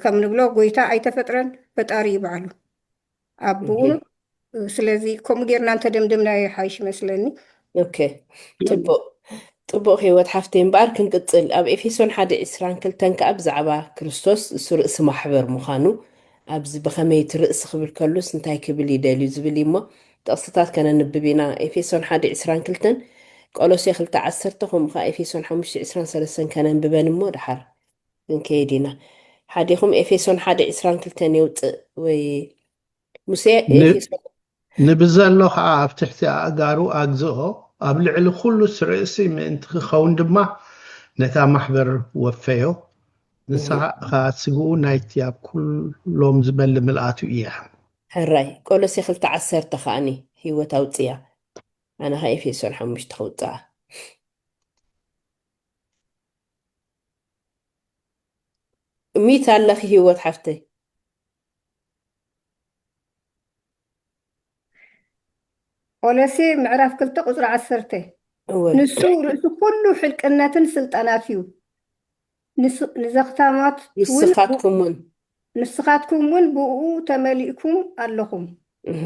ከም ንብሎ ጎይታ ኣይተፈጥረን ፈጣሪ እዩ ባዕሉ ኣቡኡ ስለዚ ከምኡ ጌርና እንተደምደምና ይሓይሽ ይመስለኒ ኦኬ ፅቡቅ ፅቡቅ ህይወት ሓፍተይ እምበኣር ክንቅፅል ኣብ ኤፌሶን ሓደ ዕስራን ክልተን ከዓ ብዛዕባ ክርስቶስ እሱ ርእሲ ማሕበር ምዃኑ ኣብዚ ብኸመይ እቲ ርእሲ ክብል ከሉስ እንታይ ክብል ይደልዩ ዝብል እዩ እሞ ጥቕስታት ከነንብብ ኢና ኤፌሶን ሓደ ዕስራን ክልተን ቆሎሴ ክልተ ዓሰርተ ከምኡ ከዓ ኤፌሶን ሓሙሽተ ዕስራን ሰለስተን ከነንብበን እሞ ደሓር ክንከይድ ኢና ሓዲኩም ኤፌሶን ሓደ ዕስራን ክልተን የውጽእ ወይ ሙሴ ኤፌሶን ንብዘሎ ኸኣ ኣብ ትሕቲ ኣእጋሩ ኣግዝኦ፣ ኣብ ልዕሊ ዅሉስ ርእሲ ምእንቲ ኪኸውን ድማ ነታ ማሕበር ወፈዮ፣ ንሳ ኸኣ ስግኡ ናይቲ ኣብ ኵሎም ዝበሊ ምልኣቱ እያ። ሕራይ ቆሎሴ ክልተ ዓሰርተ ከኣኒ ህይወት ኣውጽያ ኣነ ከኣ ኤፌሶን ሓሙሽተ ክውጽኣ። ሚት ኣለኺ ሂወት ሓፍተይ። ፖለሲ ምዕራፍ ክልተ ቁፅሪ ዓሰርተ እወ ንሱ ርእሲ ኩሉ ሕልቅነትን ስልጣናት እዩ ንስ ንዘኽታማት ውን ንስኻትኩም ውን ንስኻትኩም ውን ብእኡ ተመሊእኩም ኣለኹም እህ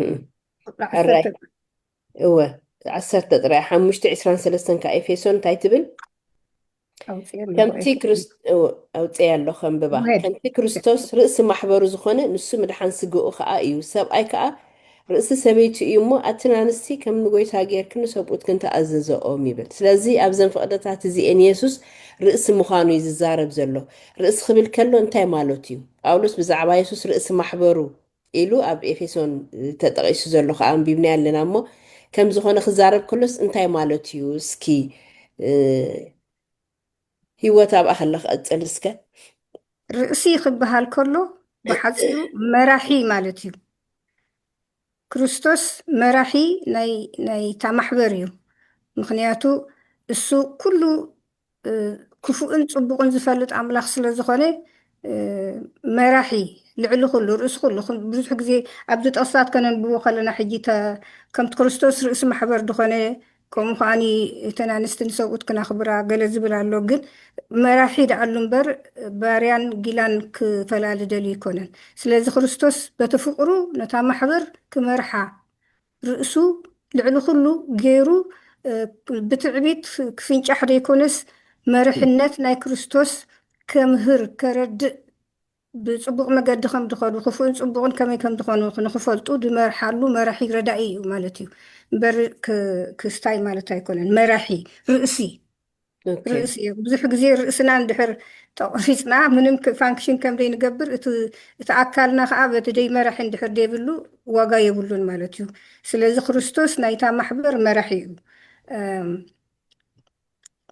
ቁፅሪ ዓሰርተ ኦራይት እወ ዓሰርተ ጥራይ ሓሙሽተ ዕስራን ሰለስተን ከዓ ኤፌሶን እንታይ ትብል ኣውፅኤ ኣለኹ ከምቲ ኤፌሶን ክርስ- እወ፣ ኣውፅኤ ኣሎ ከንብባ ውሄድ ከምቲ ክርስቶስ ርእሲ ማሕበሩ ዝኾነ ንሱ ምድሓን ስግኡ ከዓ እዩ ሰብኣይ ከዓ ርእሲ ሰበይቱ እዩ እሞ ኣትን ኣንስቲ ከም ንጎይታ ጌርክን ንሰብኡትክን ተኣዘዘኦም ይብል ስለዚ ኣብዘን ፍቕደታት እዚኤን ኢየሱስ ርእሲ ምዃኑ እዩ ዝዛረብ ዘሎ ርእሲ ክብል ከሎ እንታይ ማለቱ እዩ ጳውሎስ ብዛዕባ ኢየሱስ ርእሲ ማሕበሩ ኢሉ ኣብ ኤፌሶን ተጠቒሱ ዘሎ ከዓ ኣንቢብናዮ ኣለና እሞ ከም ዝኾነ ክዛረብ ከሎስ እንታይ ማለት እዩ እስኪ ህይወት ኣብኣ ከለ ክቐፅል እስከ ርእሲ ክበሃል ከሎ ብሓፂሩ መራሒ ማለት እዩ ክርስቶስ መራሒ ናይታ ማሕበር እዩ ምክንያቱ እሱ ኩሉ ክፉእን ጽቡቕን ዝፈልጥ ኣምላኽ ስለ ዝኾነ መራሒ ልዕሊ ኩሉ ርእሲ ኩሉ ብዙሕ ግዜ ኣብዚ ጥቕስታት ከነንብቦ ከለና ሕጂ ከምቲ ክርስቶስ ርእሲ ማሕበር ዝኾነ ከምኡ ከዓኒ እተን ኣንስቲ ንሰብኡት ክናኽብራ ገለ ዝብል ኣሎ ግን መራሒ ደኣሉ እምበር ባርያን ጊላን ክፈላሊ ደልዩ ኣይኮነን ስለዚ ክርስቶስ በቲ ፍቅሩ ነታ ማሕበር ክመርሓ ርእሱ ልዕሊ ኩሉ ገይሩ ብትዕቢት ክፍንጫሕ ዘይኮነስ መርሕነት ናይ ክርስቶስ ከምህር ከረድእ ብጽቡቕ መገዲ ከም ድኸዱ ክፉእን ጽቡቕን ከመይ ከም ድኾኑ ንክፈልጡ ድመርሓሉ መራሒ ረዳኢ እዩ ማለት እዩ እምበር ክስታይ ማለት ኣይኮነን መራሒ ርእሲ ርእሲ እዩ ብዙሕ ግዜ ርእስና እንድሕር ተቆሪፅና ምንም ፋንክሽን ከም ዘይንገብር እቲ ኣካልና ከዓ በቲ ደይ መራሒ እንድሕር ዘይብሉ ዋጋ የብሉን ማለት እዩ ስለዚ ክርስቶስ ናይታ ማሕበር መራሒ እዩ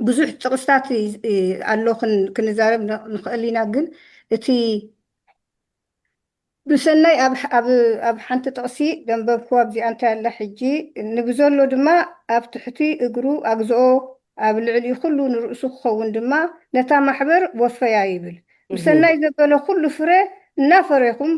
ብዙሕ ጥቕስታት ኣሎ ክንዛረብ ንኽእል ኢና ግን እቲ ብሰናይ ኣብ ሓንቲ ጥቕሲ ዘንበብክዋ ኣብዚኣ እንታይ ኣላ ሕጂ ንብዘሎ ድማ ኣብ ትሕቲ እግሩ ኣግዝኦ ኣብ ልዕሊ ኹሉ ንርእሱ ክኸውን ድማ ነታ ማሕበር ወፈያ ይብል ብሰናይ ዘበለ ኹሉ ፍረ እናፈሬኹም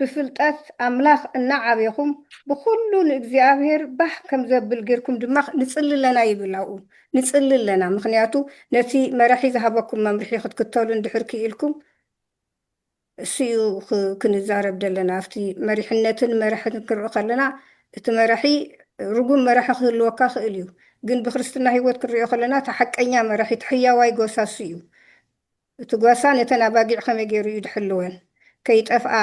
ብፍልጠት ኣምላኽ እናዓቤኹም ብኹሉ ንእግዚኣብሔር ባህ ከምዘብል ጌርኩም ድማ ንጽሊ ኣለና ይብል ኣብኡ ንጽሊ ኣለና ምኽንያቱ ነቲ መራሒ ዝሃበኩም መምርሒ ክትክተሉ እንድሕር ክኢልኩም እሱ እዩ ክንዛረብ ደለና ኣብቲ መሪሕነትን መራሕን ክንርኢ ከለና እቲ መራሒ ርጉም መራሒ ክህልወካ ክእል እዩ ግን ብክርስትና ሂወት ክንሪኦ ከለና እቲ ሓቀኛ መራሒ እቲ ሕያዋይ ጎሳ እሱ እዩ እቲ ጓሳ ነተን ኣባጊዕ ከመይ ገይሩ እዩ ድሕልወን ከይጠፍኣ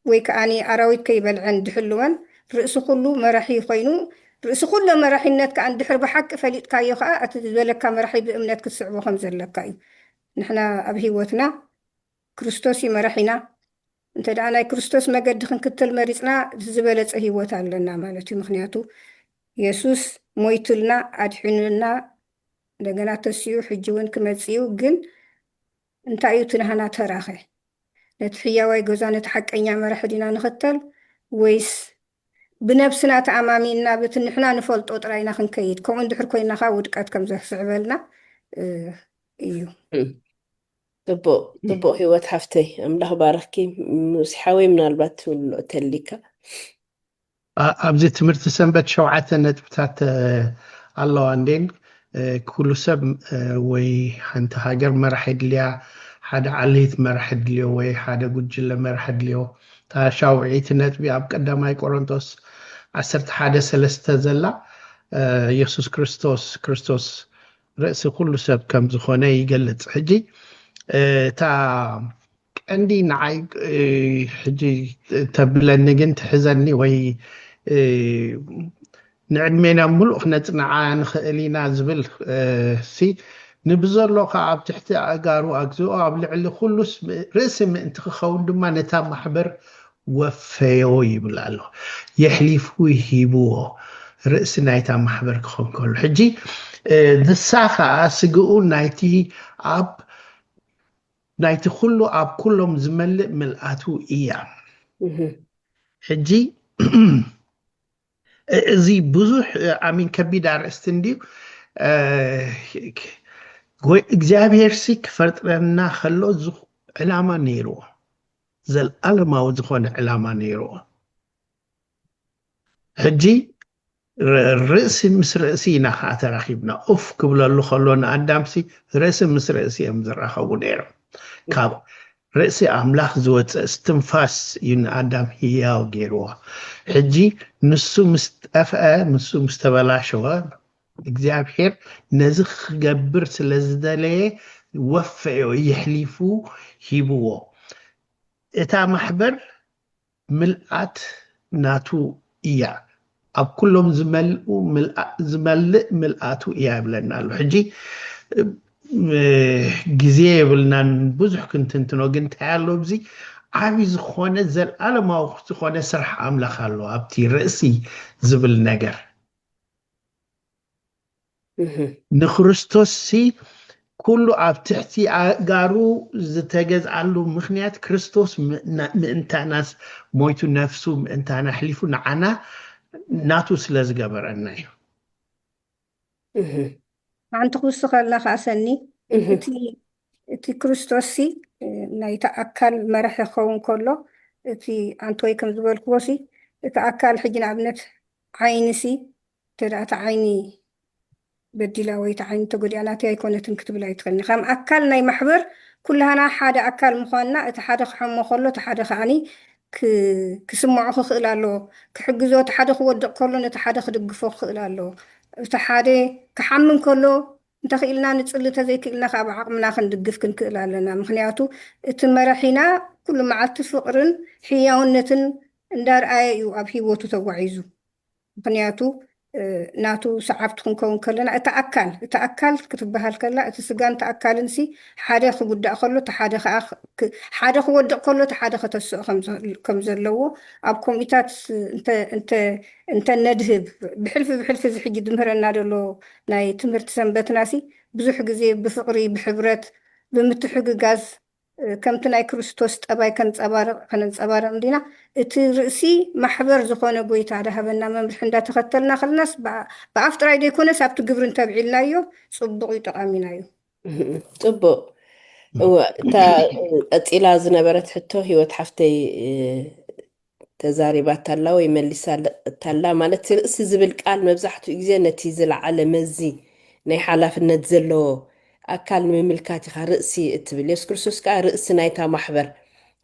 ወይ ከኣኒ ኣራዊት ከይበልዐን ድሕልወን ርእሲ ኩሉ መራሒ ኮይኑ ርእሲ ኩሎ መራሒነት ከኣ እንድሕር ብሓቂ ፈሊጥካዮ ከኣ እቲ ዝበለካ መራሒ ብእምነት ክትስዕቦ ከምዘለካ እዩ ንሕና ኣብ ሂወትና ክርስቶስ እዩ መራሒና። እንተ ደኣ ናይ ክርስቶስ መገዲ ክንክተል መሪጽና ዝበለጸ ህይወት ኣለና ማለት እዩ። ምኽንያቱ የሱስ ሞይቱልና፣ ኣድሒኑና፣ እንደገና ተሲኡ ሕጂ እውን ክመጽእ እዩ። ግን እንታይ እዩ እቲ ናህና ተራኸ? ነቲ ሕያዋይ ገዛ ነቲ ሓቀኛ መራሒ ዲና ንኸተል ወይስ ብነብስና ተኣማሚንና በቲ ንሕና ንፈልጦ ጥራይና ክንከይድ ከምኡ እንድሕር ኮይናኻ ውድቀት ከም ዘስዕበልና እዩ። ፅቡቅ ፅቡቅ ሂወት ሓፍተይ ኣምላክ ባርኽኪ ሙሴ ሓወይ ምናልባት ትብሎ እተሊካ። ኣብዚ ትምህርቲ ሰንበት ሸውዓተ ነጥብታት ኣለዋ እንዴን ኩሉ ሰብ ወይ ሓንቲ ሃገር መራሕ የድልያ ሓደ ዓሌት መራሕ የድልዮ ወይ ሓደ ጉጅለ መራሕ የድልዮ እታ ሻውዒይቲ ነጥቢ ኣብ ቀዳማይ ቆሮንቶስ ዓሰርተ ሓደ ሰለስተ ዘላ የሱስ ክርስቶስ ክርስቶስ ርእሲ ኩሉ ሰብ ከም ዝኾነ ይገልጽ ሕጂ እታ ቀንዲ ንዓይ ሕጂ ተብለኒ ግን ትሕዘኒ ወይ ንዕድሜና ምሉእ ክነጽንዓ ንኽእል ኢና ዝብል ሲ ንብዘሎ ከዓ ኣብ ትሕቲ ኣእጋሩ ኣግዚኦ ኣብ ልዕሊ ኩሉስ ርእሲ ምእንቲ ክኸውን ድማ ነታ ማሕበር ወፈዮ ይብል ኣሎ የሕሊፉ ሂብዎ ርእሲ ናይታ ማሕበር ክኾን ከሎ ሕጂ ንሳ ከዓ ስግኡ ናይቲ ኣብ ናይቲ ኩሉ ኣብ ኩሎም ዝመልእ ምልኣቱ እያ ሕጂ እዚ ብዙሕ ኣሚን ከቢድ ኣርእስቲ እንድዩ እግዚኣብሄርሲ ክፈጥረና ከሎ ዕላማ ነይርዎ ዘልኣለማዊ ዝኾነ ዕላማ ነይሩዎ። ሕጂ ርእሲ ምስ ርእሲ ኢና ከኣ ተራኺብና። ኡፍ ክብለሉ ከሎ ንኣዳምሲ ርእሲ ምስ ርእሲ እዮም ዝራኸቡ ነይሮም። ካብ ርእሲ ኣምላኽ ዝወጽእ እስትንፋስ እዩ ንኣዳም ህያው ገይሩዎ። ሕጂ ንሱ ምስ ጠፍኣ፣ ንሱ ምስ ተበላሸወ፣ እግዚኣብሔር ነዚ ክገብር ስለ ዝደለየ ወፈዮ የሕሊፉ ሂብዎ እታ ማሕበር ምልኣት ናቱ እያ ኣብ ኩሎም ዝመልኡ ዝመልእ ምልኣቱ እያ ይብለና ኣሎ ሕጂ ግዜ የብልናን ብዙሕ ክንትንትኖ ግን እንታይ ኣሎ ኣብዚ ዓብይ ዝኾነ ዘለዓለማዊ ዝኾነ ስራሕ ኣምላኽ ኣሎ ኣብቲ ርእሲ ዝብል ነገር ንክርስቶስሲ ኩሉ ኣብ ትሕቲ ኣእጋሩ ዝተገዝኣሉ ምኽንያት ክርስቶስ ምእንታናስ ሞይቱ ነፍሱ ምእንታና ኣሕሊፉ ንዓና ናቱ ስለ ዝገበረና እዩ። ሓንቲ ክውስኸላ ኸኣ ሰኒ እቲ እቲ ክርስቶስሲ ናይቲ ኣካል መራሒ ክኸውን ከሎ እቲ ኣንቶይ ከም ዝበልክዎሲ እቲ ኣካል ሕጂ ንኣብነት ዓይኒሲ እንተድኣ እታ ዓይኒ በዲላ ወይ እታ ዓይኒ ተጎዲኣ ናተይ ኣይኮነትን ክትብል ኣይትኽእልን። ከም ኣካል ናይ ማሕበር ኩላህና ሓደ ኣካል ምዃንና እቲ ሓደ ክሐሞ ከሎ እቲ ሓደ ከኣ ክስምዖ ክኽእል ኣለዎ። ክሕግዞ እቲ ሓደ ክወድቕ ከሎ ነቲ ሓደ ክድግፎ ክኽእል ኣለዎ። እቲ ሓደ ክሓሚ እንከሎ እንተኽኢልና ንጽሊ እንተዘይክኢልና ከኣ ብዓቕምና ክንድግፍ ክንክእል ኣለና። ምኽንያቱ እቲ መራሒና ኩሉ መዓልቲ ፍቕርን ሕያውነትን እንዳርኣየ እዩ ኣብ ሂወቱ ተጓዒዙ ምኽንያቱ ናቱ ሰዓብቲ ክንከውን ከለና እታ ኣካል እታ ኣካል ክትበሃል ከላ እቲ ስጋን እታ ኣካልን ሲ ሓደ ክጉዳእ ከሎ እቲ ሓደ ከኣ ሓደ ክወድቕ ከሎ እቲ ሓደ ከተስኦ ከም ዘለዎ ኣብ ኮሚታት እንተ እንተ ነድህብ ብሕልፊ ብሕልፊ እዚ ሕጂ ዝምህረና ዘሎ ናይ ትምህርቲ ሰንበትና ሲ ብዙሕ ግዜ ብፍቕሪ ብሕብረት ብምትሕግጋዝ ከምቲ ናይ ክርስቶስ ጠባይ ከንጸባርቕ ከነንጸባርቕ እንዲና፣ እቲ ርእሲ ማሕበር ዝኾነ ጎይታ ድሃበና መምርሒ እንዳተኸተልና ከለናስ ብኣፍ ጥራይ ዘይኮነስ ኣብቲ ግብሪ እንተብዒልናዮ ጽቡቕዩ ጠቓሚናዩ። ጽቡቕ እወ እታ ቀጺላ ዝነበረት ሕቶ ሂወት ሓፍተይ ተዛሪባታላ ወይ መሊሳታላ ማለት ርእሲ ዝብል ቃል መብዛሕትኡ ግዜ ነቲ ዝለዓለ መዚ ናይ ሓላፍነት ዘለዎ ኣካል ንምምልካት ኢኻ ርእሲ እትብል። የሱስ ክርስቶስ ከኣ ርእሲ ናይታ ማሕበር።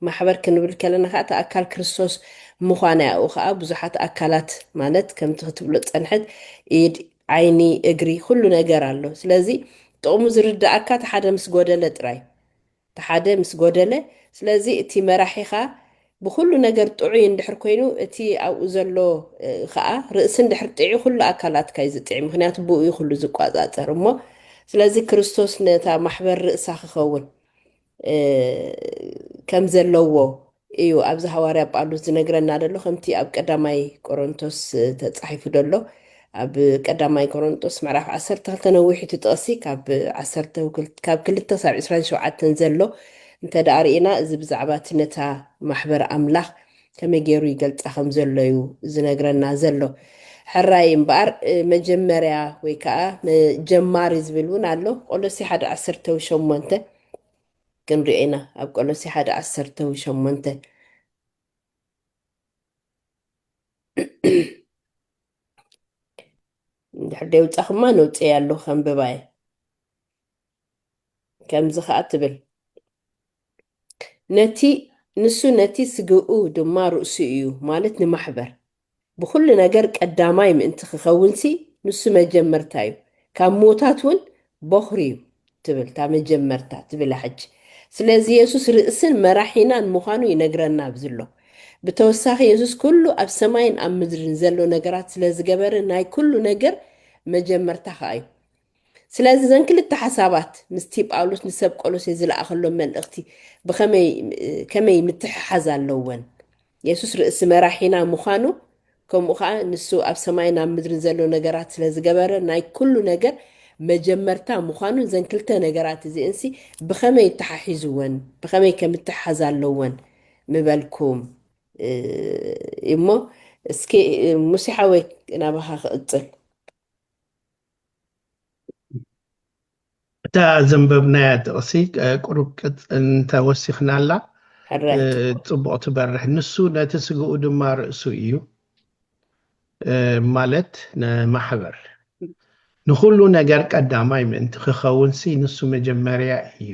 ማሕበር ክንብል ከለና ከኣ እቲ ኣካል ክርስቶስ ምዃና ያኡ ከኣ ብዙሓት ኣካላት ማለት ከምቲ ክትብሎ ዝጸንሐት ኢድ፣ ዓይኒ፣ እግሪ ኩሉ ነገር ኣሎ። ስለዚ ጥቕሙ ዝርደኣካ እቲ ሓደ ምስ ጎደለ ጥራይ። እቲ ሓደ ምስ ጎደለ ስለዚ እቲ መራሒኻ ብኹሉ ነገር ጥዑይ እንድሕር ኮይኑ እቲ ኣብኡ ዘሎ ኸኣ ርእሲ እንድሕር ጢዑ ኩሉ ኣካላትካ እዩ ዝጢዕ ምኽንያቱ ብኡ እዩ ኩሉ ዝቋጻጸር እሞ ስለዚ ክርስቶስ ነታ ማሕበር ርእሳ ክኸውን ከምዘለዎ እዩ ኣብዚ ሃዋርያ ጳሉስ ዝነግረና ደሎ ከምቲ ኣብ ቀዳማይ ቆሮንቶስ ተጻሒፉ ደሎ ኣብ ቀዳማይ ቆሮንጦስ ምዕራፍ ዓሰርተ ክልተ ነዊሕ እቲ ጥቕሲ ካብ ዓሰርተ ካብ ክልተ ክሳብ ዕስራን ሸውዓተን ዘሎ እንተ ደኣ ርኢና እዚ ብዛዕባ እቲ ነታ ማሕበር ኣምላኽ ከመይ ገይሩ ይገልጻ ከም ዘሎ እዩ ዝነግረና ዘሎ ሕራይ እምበኣር መጀመርያ ወይ ከኣ ጀማሪ ዝብል እውን ኣሎ ቆሎሴ ሓደ ዓሰርተ ሸሞንተ ክንሪኦ ኢና ኣብ ቆሎሴ ሓደ ዓሰርተ ሸሞንተ። እንድሕር ደይውጻኹማ ነውጽኤ ኣለኹ ከንብባ እየ። ከምዚ ከኣ ትብል ነቲ ንሱ ነቲ ስግኡ ድማ ርእሱ እዩ ማለት ንማሕበር ብኹሉ ነገር ቀዳማይ ምእንቲ ኪኸውንሲ፣ ንሱ መጀመርታ እዩ። ካብ ምዉታት እውን በዅሪ እዩ ትብል እታ መጀመርታ ትብላ ሕጂ። ስለዚ የሱስ ርእስን መራሒናን ምዃኑ ይነግረና ኣብዚ ኣሎ። ብተወሳኺ የሱስ ኩሉ ኣብ ሰማይን ኣብ ምድርን ዘሎ ነገራት ስለ ዝገበረ ናይ ኩሉ ነገር መጀመርታ ኸኣ እዩ። ስለዚ እዘን ክልተ ሓሳባት ምስቲ ጳውሎስ ንሰብ ቆሎሴ ዝለኣኸሎም መልእኽቲ ብኸመይ ከመይ ምትሕሓዝ ኣለወን? የሱስ ርእሲ መራሒና ምዃኑ ከምኡ ኸኣ ንሱ ኣብ ሰማይን ኣብ ምድርን ዘሎ ነገራት ስለ ዝገበረ ናይ ኩሉ ነገር መጀመርታ ምዃኑ እዘን ክልተ ነገራት እዚእንሲ ብኸመይ ይተሓሒዝወን ብኸመይ ከም እተሓዝ ኣለወን ምበልኩም እሞ እስኪ ሙሴ ሓወይ ናባኻ ክቕጽል እታ ዘንበብናያ ጥቕሲ ቁሩብ እንተ ወሲኽናላ ጽቡቕ ትበርሕ። ንሱ ነቲ ስግኡ ድማ ርእሱ እዩ፣ ማለት ንማሕበር። ንኹሉ ነገር ቀዳማይ ምእንቲ ክኸውንሲ ንሱ መጀመርያ እዩ።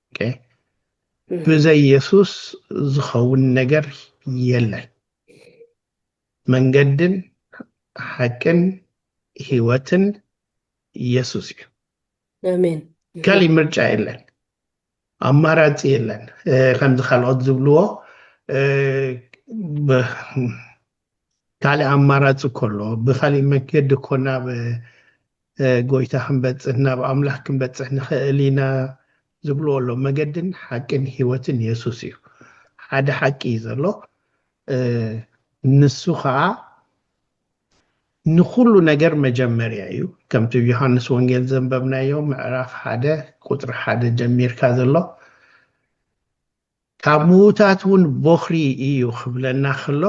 ብዘይ የሱስ ዝኸውን ነገር የለን። መንገድን ሓቅን ህይወትን የሱስ እዩ። ኣሜን። ካሊእ ምርጫ የለን፣ ኣማራፂ የለን። ከምዚ ካልኦት ዝብልዎ ካልእ ኣማራጺ እኮ ኣሎ ብካሊእ መንገዲ እኮ ናብ ጎይታ ክንበጽሕ ናብ ኣምላኽ ክንበጽሕ ንኽእል ኢና ዝብልዎ ኣሎ መገድን ሓቅን ህይወትን የሱስ እዩ ሓደ ሓቂ እዩ ዘሎ ንሱ ከዓ ንኩሉ ነገር መጀመርያ እዩ ከምቲ ዮሃንስ ወንጌል ዘንበብናዮ ምዕራፍ ሓደ ቁፅሪ ሓደ ጀሚርካ ዘሎ ካብ ምዉታት እውን ቦኽሪ እዩ ክብለና ከሎ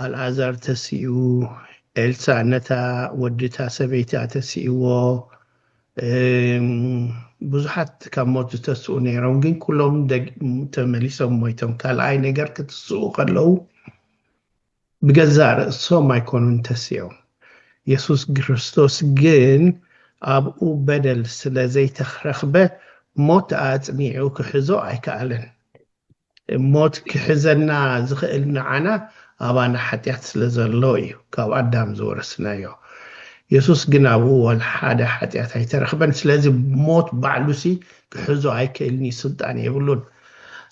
ኣልኣዛር ተሲኡ ኤልሳ ነታ ወዲታ ሰበይቲ ኣተሲእዎ ብዙሓት ካብ ሞት ዝተስኡ ነይሮም ግን ኩሎም ተመሊሶም ሞይቶም ካልኣይ ነገር ክትስኡ ከለዉ ብገዛእ ርእሶም ኣይኰኑን ተሲኦም፣ የሱስ ክርስቶስ ግን ኣብኡ በደል ስለ ዘይተረኽበ ሞት ኣጽኒዑ ክሕዞ ኣይከኣለን። ሞት ክሕዘና ዝኽእል ንዓና ኣባና ሓጢኣት ስለ ዘሎ ኢዩ፣ ካብ ኣዳም ዝወረስናዮ። የሱስ ግን ኣብኡ ዋላ ሓደ ሓጢኣት ኣይተረኽበን፣ ስለዚ ሞት ባዕሉሲ ክሕዞ ኣይክእልን ኢዩ፣ ስልጣን የብሉን።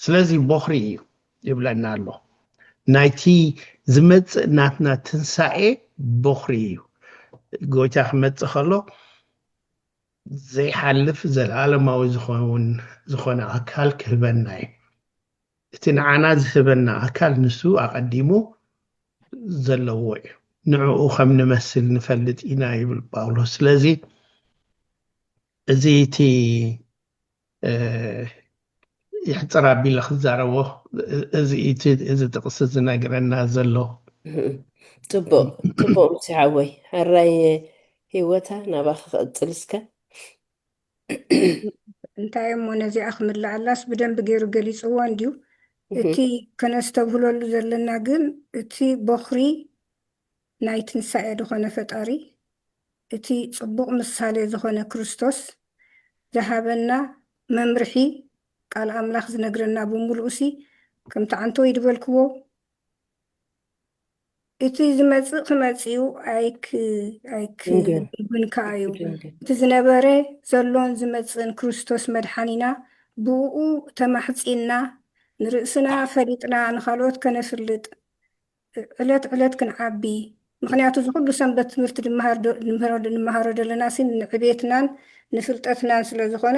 ስለዚ ቦኽሪ ኢዩ። ይብለና ኣሎ ናይቲ ዝመፅእ ናትና ትንሳኤ ቦኽሪ እዩ ጎይታ ክመፅእ ከሎ ዘይሓልፍ ዘለኣለማዊ ዝኸውን ዝኾነ ኣካል ክህበና እዩ እቲ ንዓና ዝህበና ኣካል ንሱ ኣቐዲሙ ዘለዎ እዩ ንዕኡ ከም ንመስል ንፈልጥ ኢና ይብል ጳውሎስ ስለዚ እዚ እቲ የሕፅር ኣቢለ ክዛረቦ እዚ እቲ እዚ ጥቕሲ ዝነግረና ዘሎ ፅቡቅ ፅቡቅ ምስ ሓወይ ሕራይ ሂወታ ናባኺ ክቕፅል እስከ እንታይ እሞ ነዚኣ ክምልኣላስ ብደንቢ ገይሩ ገሊፅዎ እንድዩ እቲ ከነስተብህለሉ ዘለና ግን እቲ ቦኽሪ ናይ ትንሳኤ ዝኾነ ፈጣሪ እቲ ጽቡቕ ምሳሌ ዝኾነ ክርስቶስ ዝሃበና መምርሒ ቃል ኣምላኽ ዝነግረና ብምሉኡሲ ከምቲ ዓንተወይ ድበልክዎ እቲ ዝመጽእ ክመጽኡ ኣይክ ኣይክ ድንግል ግን ከኣ እዩ ኣይትደንግል እቲ ዝነበረ ዘሎን ዝመጽእን ክርስቶስ መድሓኒና ብእኡ ተማሕጺንና ንርእስና ፈሊጥና ንኻልኦት ከነፍልጥ ዕለት ዕለት ክንዓቢ ምኽንያቱ እዚ ኩሉ ሰንበት ትምህርቲ ንመሃሮ ደለናሲ ንዕቤትናን ንፍልጠትናን ስለ ዝኾነ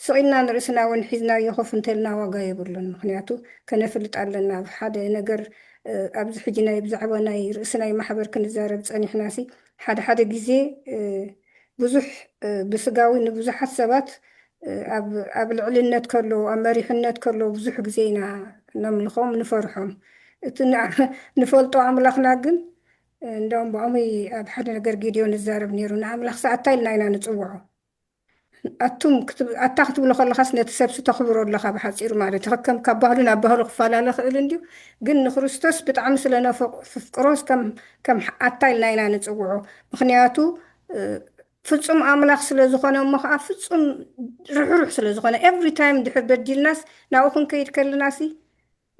ስቕ ኢልና ንርእስና ውን ሒዝናዮ ኮፍ እንተልና ዋጋ የብሉን ምኽንያቱ ከነፍልጥ ኣለና ኣብ ሓደ ነገር ኣብዚ ሕጂ ናይ ብዛዕባ ናይ ርእሲ ናይ ማሕበር ክንዛረብ ጸኒሕናሲ ሓደ ሓደ ግዜ ብዙሕ ብስጋዊ ንብዙሓት ሰባት ኣብ ኣብ ልዕልነት ከለዉ ኣብ መሪሕነት ከለዉ ብዙሕ ግዜ ኢና ነምልኾም ንፈርሖም እቲ ንፈልጦ ኣምላኽና ግን እንዳውም ብዖሙይ ኣብ ሓደ ነገር ጊድዮን ይዛረብ ነይሩ ንኣምላኽ ሰኣታይ ኢልና ኢና ንጽውዖ ኣቱም ክትብ ኣታ ክትብሎ ከለኻስ ነቲ ሰብሲ ተኽብሮ ኣለኻ ብሓጺሩ ማለት እዩ ከከም ካብ ባህሉ ናብ ባህሉ ክፈላለ ይኽእል እንድዩ ግን ንክርስቶስ ብጣዕሚ ስለ ነፍቅ ፍፍቅሮስ ከም ከም ኣታ ኢልና ኢና ንጽውዖ ምኽንያቱ ፍጹም ኣምላኽ ስለ ዝኾነ እሞ ኸኣ ፍጹም ርሕሩሕ ስለ ዝኾነ ኤቭሪ ታይም ድሕር በዲልናስ ናብኡ ክንከይድ ከለናሲ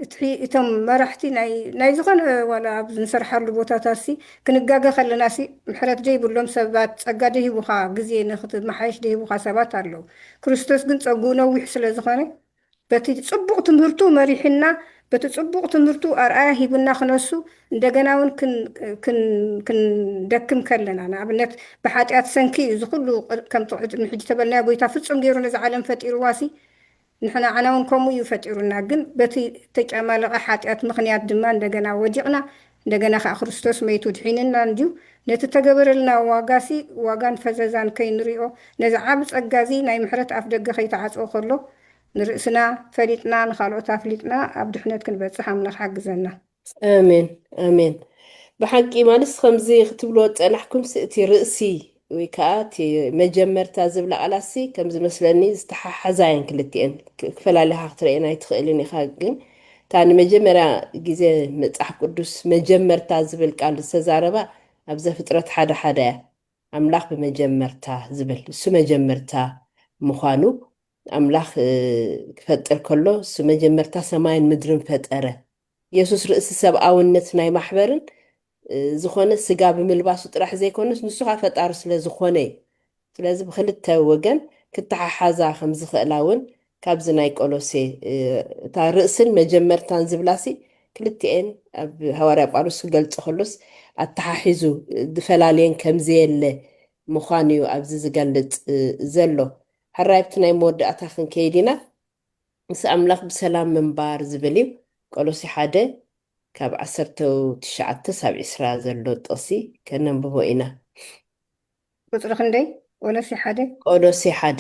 እቲ እቶም መራሕቲ ናይ ናይ ዝኾነ ዋላ ኣብ ዝንሰርሓሉ ቦታታትሲ ክንጋገ ከለናሲ ምሕረት ዘይብሎም ሰባት ጸጋ ደይህቡኻ ግዜ ንኽትመሓየሽ ደይህቡኻ ሰባት ኣለዉ ክርስቶስ ግን ጸግኡ ነዊሕ ስለ ዝኾነ በቲ ጽቡቕ ትምህርቱ መሪሕና በቲ ጽቡቕ ትምህርቱ ኣርኣያ ሂቡና ክነሱ እንደገና ውን ክንደክም ከለና ንኣብነት ብሓጢኣት ሰንኪ እዩ እዚ ኩሉ ከም ቅድሚ ሕጂ ተበልናዮ ጎይታ ፍጹም ገይሩ ነዛ ዓለም ፈጢርዋሲ ንሕናዓና ውን ከምኡ እዩ ፈጢሩና ግን በቲ እተጫማለቐ ሓጢኣት ምኽንያት ድማ እንደገና ወዲቕና እንደገና ከኣ ክርስቶስ መይቱ ድሒንና እንድዩ ነቲ እተገበረልና ዋጋሲ ዋጋን ፈዘዛን ከይንሪኦ ነዚ ዓቢ ጸጋ እዚ ናይ ምሕረት ኣፍደገ ከይተዓጽወ ከሎ ንርእስና ፈሊጥና ንኻልኦት ኣፍሊጥና ኣብ ድሕነት ክንበጽሕ ኣምላኽ ሓግዘና። ኣሜን ኣሜን ብሓቂ ማለት ከምዚ ክትብልዎ ዝጸናሕኩምሲ እቲ ርእሲ ወይ ከዓ እቲ መጀመርታ ዝብላ ቃላሲ ከም ዝመስለኒ ዝተሓሓዛ እየን ክልቲኤን ክ- ክፈላልኻ ክትርእየን ኣይትኽእልን ኢኻ ግን እታ ንመጀመርያ ግዜ መጽሓፍ ቅዱስ መጀመርታ ዝብል ቃል ዝተዛረባ ኣብ ዘፍጥረት ሓደ ሓደ እያ ኣምላኽ ብመጀመርታ ዝብል እሱ መጀመርታ ምዃኑ ኣምላኽ እ፣ ክፈጥር ከሎ እሱ መጀመርታ ሰማይን ምድርን ፈጠረ የሱስ ርእሲ ሰብኣውነት ናይ ማሕበርን ዝኾነ ስጋ ብምልባሱ ጥራሕ ዘይኮነስ ንሱ ከኣ ፈጣሪ ስለ ዝኾነ እዩ። ስለዚ ብኽልተ ወገን ክተሓሓዛ ከም ዝኽእላ እውን ካብዚ ናይ ቆሎሴ እታ ርእስን መጀመርታን ዝብላሲ ክልቲኤን ኣብ ሃዋርያ ጳውሎስ ክገልጾ ከሎስ ኣተሓሒዙ ዝፈላልየን ከም ዘየለ ምዃኑ እዩ ኣብዚ ዝገልጽ ዘሎ። ሕራይ ኣብቲ ናይ መወዳእታ ክንከይድ ኢና። ምስ ኣምላኽ ብሰላም ምንባር ዝብል እዩ። ቆሎሴ ሓደ ካብ ዓሰርተ ትሽዓተ ሳብ ዕስራ ዘሎ ጥቕሲ ከነንብቦ ኢና። ቁጽሪ ክንደይ? ቆሎሴ ሓደ። ቆሎሴ ሓደ፣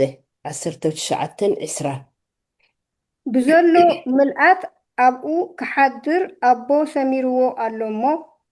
ዓሰርተ ትሽዓተን ዕስራን። ብዘሎ ምልኣት ኣብኡ ክሓድር ኣቦ ሰሚርዎ ኣሎ እሞ፣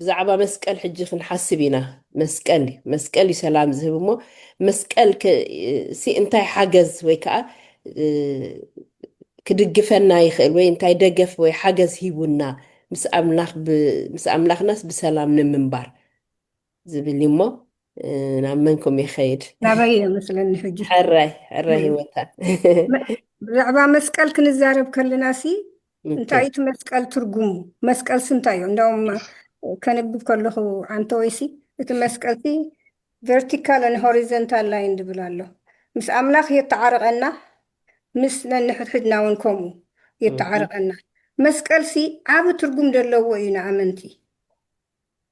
ብዛዕባ መስቀል ሕጂ ክንሓስብ ኢና መስቀል እዩ መስቀል እዩ ሰላም ዝህብ እሞ መስቀል ሲ እንታይ ሓገዝ ወይ ከዓ ክድግፈና ይኽእል ወይ እንታይ ደገፍ ወይ ሓገዝ ሂቡና ምስ ኣምላኽናስ ብሰላም ንምንባር ዝብል እዩ እሞ ናብ መንኩም ይኸይድ ናበይ እየ መስለኒ ሕጂ ሕራይ ሕራይ ህይወታ ብዛዕባ መስቀል ክንዛረብ ከለና ሲ እንታይ እቲ መስቀል ትርጉሙ መስቀልሲ እንታይ እዩ እንዳውም ከንብብ ከለኹ ኣንተወይሲ እቲ መስቀልሲ ቨርቲካልን ሆሪዘንታል ላይን ዝብል ኣሎ ምስ ኣምላኽ የተዓርቐና ምስ ነንሕድሕድና እውን ከምኡ የተዓርቐና መስቀልሲ ዓብ ትርጉም ዘለዎ እዩ ንኣመንቲ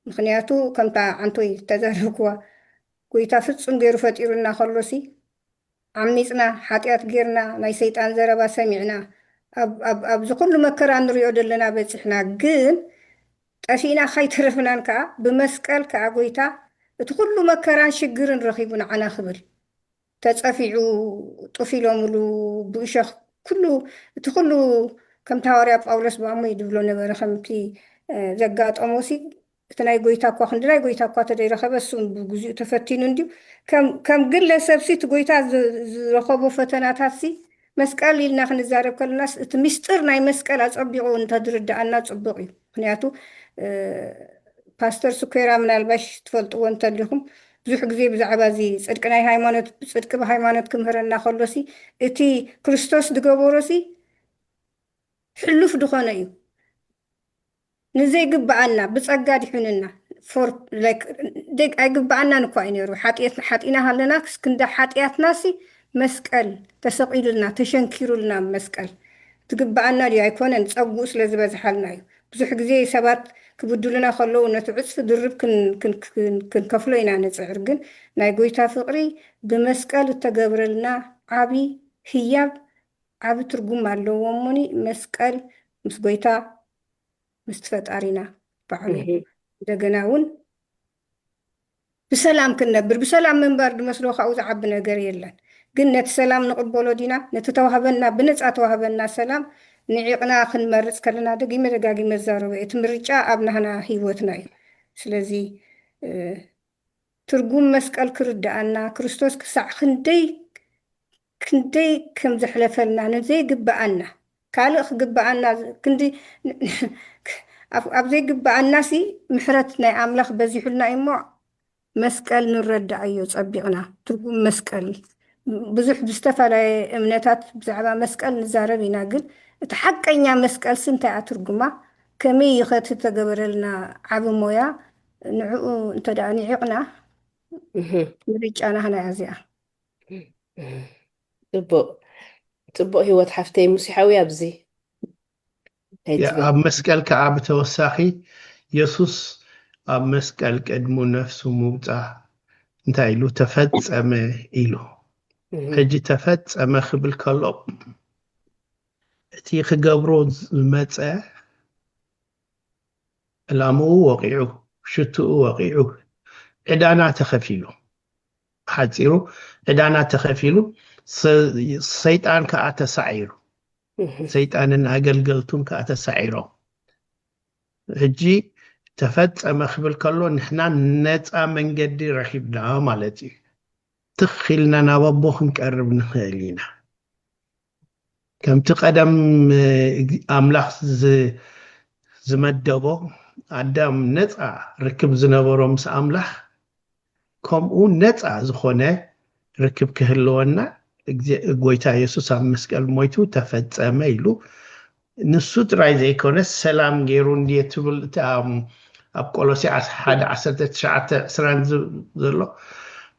ምኽንያቱ ከምታ ዓንቶይ ዝተዛረብክዋ ጎይታ ፍጹም ጌሩ ፈጢሩና ከሎሲ ዓሚጽና ሓጢኣት ጌርና ናይ ሰይጣን ዘረባ ሰሚዕና ኣብ ኣብ ኣብዚ ኩሉ መከራ ንሪኦ ደለና በጺሕና ግን ጠፊእና ካይተረፍናን ከኣ ብመስቀል ከኣ ጎይታ እቲ ኩሉ መከራን ሽግርን ረኺቡ ንዓና ክብል ተጸፊዑ ጡፍ ኢሎሙሉ ብእሾኽ ኩሉ እቲ ኩሉ ከምቲ ሃዋርያ ጳውሎስ ብኣሞይ ድብሎ ነበረ ከምቲ ዘጋጠሞሲ እቲ ናይ ጎይታ እኳ ክንዲ ናይ ጎይታ እኳ ተደይረኸበ እሱ ብግዚኡ ተፈቲኑ እንድዩ ከም ግለሰብሲ እቲ ጎይታ ዝረኸቦ ፈተናታትሲ መስቀል ኢልና ክንዛረብ ከለናስ እቲ ምስጢር ናይ መስቀል ኣጸቢቑ እውን እንተዝርድኣና ጽቡቕ እዩ። ምክንያቱ ፓስተር ስኮራ ምናልባሽ ትፈልጥዎ እንተሊኹም ብዙሕ ግዜ ብዛዕባ እዚ ጽድቂ ናይ ሃይማኖት ጽድቂ ብሃይማኖት ክምህረና ከሎሲ እቲ ክርስቶስ ዝገበሮሲ ሕሉፍ ድኾነ እዩ። ንዘይግብኣና ብጸጋ ኣድሑኑና for like ደግ ኣይግብኣናን እኳ እዩ ነይሩ ሓጥየትና ሓጢና ሃለና ክንዲ ሓጥያትናሲ መስቀል ተሰቂሉልና ተሸንኪሩልና ኣብ መስቀል ትግብኣና ድዩ ኣይኮነን ጸግኡ ስለ ዝበዝሓልና እዩ ብዙሕ ግዜ ሰባት ክብድሉና ከለዉ ነቲ ዕጽፊ ድርብ ክንከፍሎ ኢና ንጽዕር ግን ናይ ጎይታ ፍቅሪ ብመስቀል እተገብረልና ዓቢ ህያብ ዓቢ ትርጉም ኣለዎ እሞኒ መስቀል ምስ ጎይታ ምስቲ ፈጣሪና ባዕሉ እንደገና ውን ብሰላም ክንነብር ብሰላም ምንባር ድመስሎ ካብኡ ዝዓቢ ነገር የለን ግን ነቲ ሰላም ንቕበሎ ዲና ነቲ ተዋህበና ብነጻ ተዋህበና ሰላም ንዒቕና ክንመርጽ ከለና ደጊመ ደጋጊመ እዛረቦ እየ እቲ ምርጫ ኣብ ናህና ሂወትና እዩ ስለዚ ትርጉም መስቀል ክርድኣና ክርስቶስ ክሳዕ ክንደይ ክንደይ ከም ዘሕለፈልና ንዘይግብኣና ካልእ ክግብኣና ክንዲ ኣብ ዘይግብኣናሲ ምሕረት ናይ ኣምላኽ በዚሑልና እዩሞ መስቀል ንረድኣዮ ጸቢቕና ትርጉም መስቀል ብዙሕ ብዝተፈላለየ እምነታት ብዛዕባ መስቀል ንዛረብ ኢና ግን እቲ ሓቀኛ መስቀልሲ እንታይ'ያ ትርጉማ ከመይ'ዩኸ እቲ ዝተገበረልና ዓቢ ሞያ ንዕኡ እንተ ደኣ ንዒቕና ምርጫ ናህና እያ እዚኣ። ጽቡቅ ጽቡቅ ሂወት ሓፍተይ ሙሲሓዊ ኣብዚ ኣብ መስቀል ከዓ ብተወሳኺ የሱስ ኣብ መስቀል ቅድሙ ነፍሱ ምውፃ እንታይ ኢሉ ተፈፀመ ኢሉ ሕጂ ተፈፀመ ክብል ከሎ እቲ ክገብሮ ዝመፀ ዕላምኡ ወቒዑ፣ ሽትኡ ወቒዑ፣ ዕዳና ተኸፊሉ። ብሓጺሩ ዕዳና ተኸፊሉ፣ ሰይጣን ከኣ ተሳዒሩ። ሰይጣንን ኣገልገልቱን ከኣ ተሳዒሮም። ሕጂ ተፈጸመ ክብል ከሎ ንሕና ነፃ መንገዲ ረኺብና ማለት እዩ። ትኽ ኢልና ናብ ኣቦ ክንቀርብ ንኽእል ኢና። ከምቲ ቀደም ኣምላኽ ዝመደቦ ኣዳም ነጻ ርክብ ዝነበሮ ምስ ኣምላኽ ከምኡ ነጻ ዝኾነ ርክብ ክህልወና ጎይታ የሱስ ኣብ መስቀል ሞይቱ ተፈጸመ ኢሉ ንሱ ጥራይ ዘይኮነስ ሰላም ገይሩ እንድየ ትብል እታ ኣብ ቆሎሲዓስ ሓደ ዓሰርተ ትሽዓተ ዕስራ ዘሎ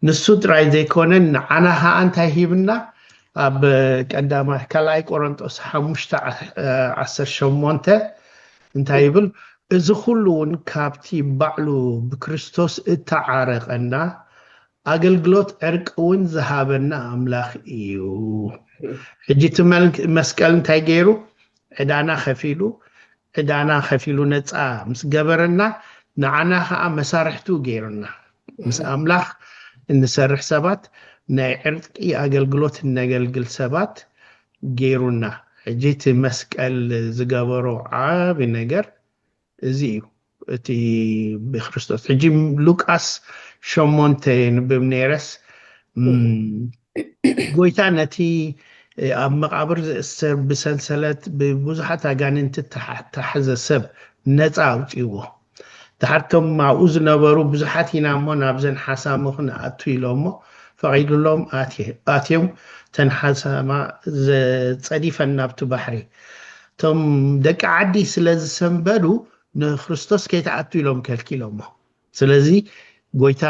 ንሱ ጥራይ ዘይኮነ ንዓና ከኣ እንታይ ሂብና ኣብ ቀዳማ ካልኣይ ቆሮንጦስ ሓሙሽተ ዓሰርተ ሸሞንተ እንታይ ይብል እዚ ኩሉ እውን ካብቲ ባዕሉ ብክርስቶስ እተዓረቀና ኣገልግሎት ዕርቂ እውን ዝሃበና ኣምላኽ ኢዩ። ሕጂ እቲ መስቀል እንታይ ገይሩ? ዕዳና ከፊሉ ዕዳና ከፊሉ ነጻ ምስ ገበረና ንዓና ከኣ መሳርሕቱ ገይሩና። ምስ ኣምላኽ እንሰርሕ ሰባት ናይ ዕርቂ ኣገልግሎት እነገልግል ሰባት ገይሩና። ሕጂ እቲ መስቀል ዝገበሮ ዓቢ ነገር እዚ እዩ እቲ ብክርስቶስ ሕጂ ሉቃስ ሸሞንተ የንብብ ነይረስ ጎይታ ነቲ ኣብ መቓብር ዝእሰር ብሰንሰለት ብብዙሓት ኣጋንንቲ እተታሕዘ ሰብ ነፃ ኣውፅዎ ድሓርቶም ኣብኡ ዝነበሩ ብዙሓት ኢና እሞ ናብዘን ሓሳሙ ክንኣቱ ኢሎሞ ፈቒዱሎም ኣትዮም ተን ሓሳማ ጸዲፈን ናብቲ ባሕሪ እቶም ደቂ ዓዲ ስለ ዝሰንበዱ ንክርስቶስ ከይትኣቱ ኢሎም ከልኪሎሞ ስለዚ ጎይታ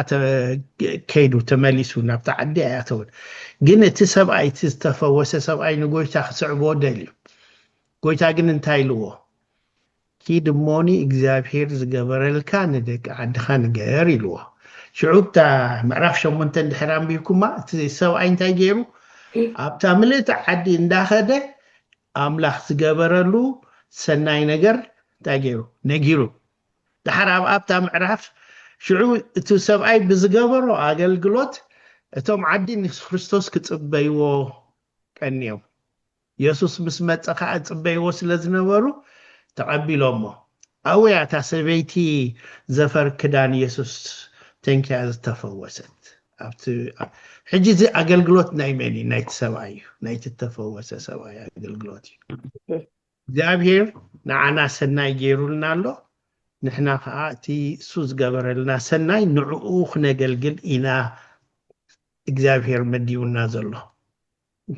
ከይዱ ተመሊሱ ናብቲ ዓዲ ኣይኣተውን ግን እቲ ሰብኣይ እቲ ዝተፈወሰ ሰብኣይ ንጎይታ ክስዕቦ ደልዩ ጎይታ ግን እንታይ ኢልዎ ኪድ እሞኒ እግዚኣብሄር ዝገበረልካ ንደቂ ዓድኻ ንገር ኢልዎ ሽዑ ብታ ምዕራፍ ሸሞንተ እንድሕር ኣንቢብኩማ እቲ ሰብኣይ እንታይ ገይሩ ኣብታ ምልእቲ ዓዲ እንዳኸደ ኣምላኽ ዝገበረሉ ሰናይ ነገር እንታይ ገይሩ? ነጊሩ። ደሓር ኣብ ኣብታ ምዕራፍ ሽዑ እቲ ሰብኣይ ብዝገበሮ ኣገልግሎት እቶም ዓዲ ንክርስቶስ ክጽበይዎ ቀንዮም። የሱስ ምስ መጸ ከኣ እጽበይዎ ስለ ዝነበሩ ተቐቢሎሞ። ኣውያ እታ ሰበይቲ ዘፈር ክዳን የሱስ ተንኪያ ዝተፈወሰት! ሕጂ እዚ ኣገልግሎት ናይ መን እዩ ናይቲ ሰብኣይ እዩ ናይቲ ተፈወሰ ሰብኣይ ኣገልግሎት እዩ እግዚኣብሄር ንዓና ሰናይ ገይሩልና ኣሎ ንሕና ከዓ እቲ እሱ ዝገበረልና ሰናይ ንዕኡ ክነገልግል ኢና እግዚኣብሄር መዲቡና ዘሎ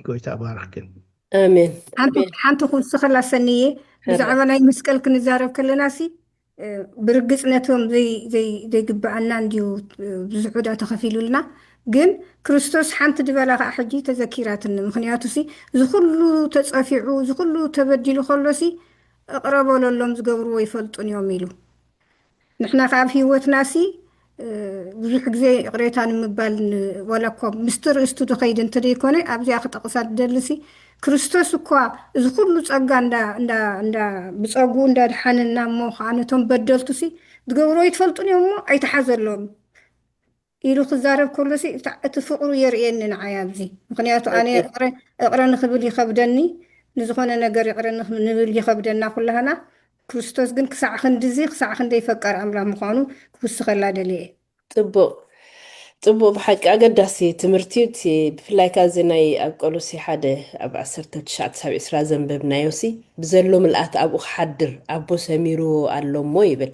ጎይታ ይባርኽክን። ኣሜን ሓንቲ ኣሜን ሓንቲ ክውስኸላ ሰንየ ሐረ ብዛዕባ ናይ መስቀል ክንዛረብ ከለና ሲ እ፣ ብርግጽ ነቶም ዘይ ዘይ ዘይግብኣና እንድዩ እ፣ ብዙሕ ዕዳ ተኸፊሉልና ግን ክርስቶስ ሓንቲ ድበላ ከዓ ሕጂ ተዘኪራትኒ ምክንያቱ ሲ እዚ ኩሉ ተጸፊዑ እዚ ኩሉ ተበዲሉ ከሎ ሲ እቕረ በለሎም ዝገብርዎ ይፈልጡን እዮም ኢሉ ንሕና ከኣ ኣብ ህይወትናሲ ብዙሕ ግዜ ይቕሬታ ንምባል ዋላ እኳ ምስቲ ርእስቱ ዝኸይድ እንተዘይኮነ ኣብዚኣ ክጠቕሳ ዝደሊሲ ክርስቶስ እኳ እዚ ኩሉ ጸጋ እንዳ ብጸጉኡ እንዳ ኣድሓነና እሞ ከኣ ነቶም በደልቱሲ ዝገብርዎ ኣይትፈልጡን እዮም እሞ ኣይትሓዘሎም ኢሉ ክዛረብ ከሎሲ እታ እቲ ፍቅሩ የርእየኒ ንዓይ ኣብዚ ምኽንያቱ ኣነ ኦኬ እቅረ እቅረ ንኽብል ይኸብደኒ ንዝኾነ ነገር ይቅረ ንኽ ንብል ይኸብደና ኩላህና ክርስቶስ ግን ክሳዕ ክንድዚ ክሳዕ ክንደይ ፈቃር ኣምላኽ ምዃኑ ክውስኸላ ደልየ እየ። ጽቡቅ ጽቡቅ ብሓቂ ኣገዳሲ ትምህርቲ እዩ እቲ ብፍላይ ከኣ እዚ ናይ ኣብ ቆሎሲ ሓደ ኣብ ዓሰርተ ትሽዓተ ሳብ ዕስራ ዘንበብናዮሲ ብዘሎ ምልኣት ኣብኡ ክሓድር ኣቦ ሰሚርዎ ኣሎ እሞ ይብል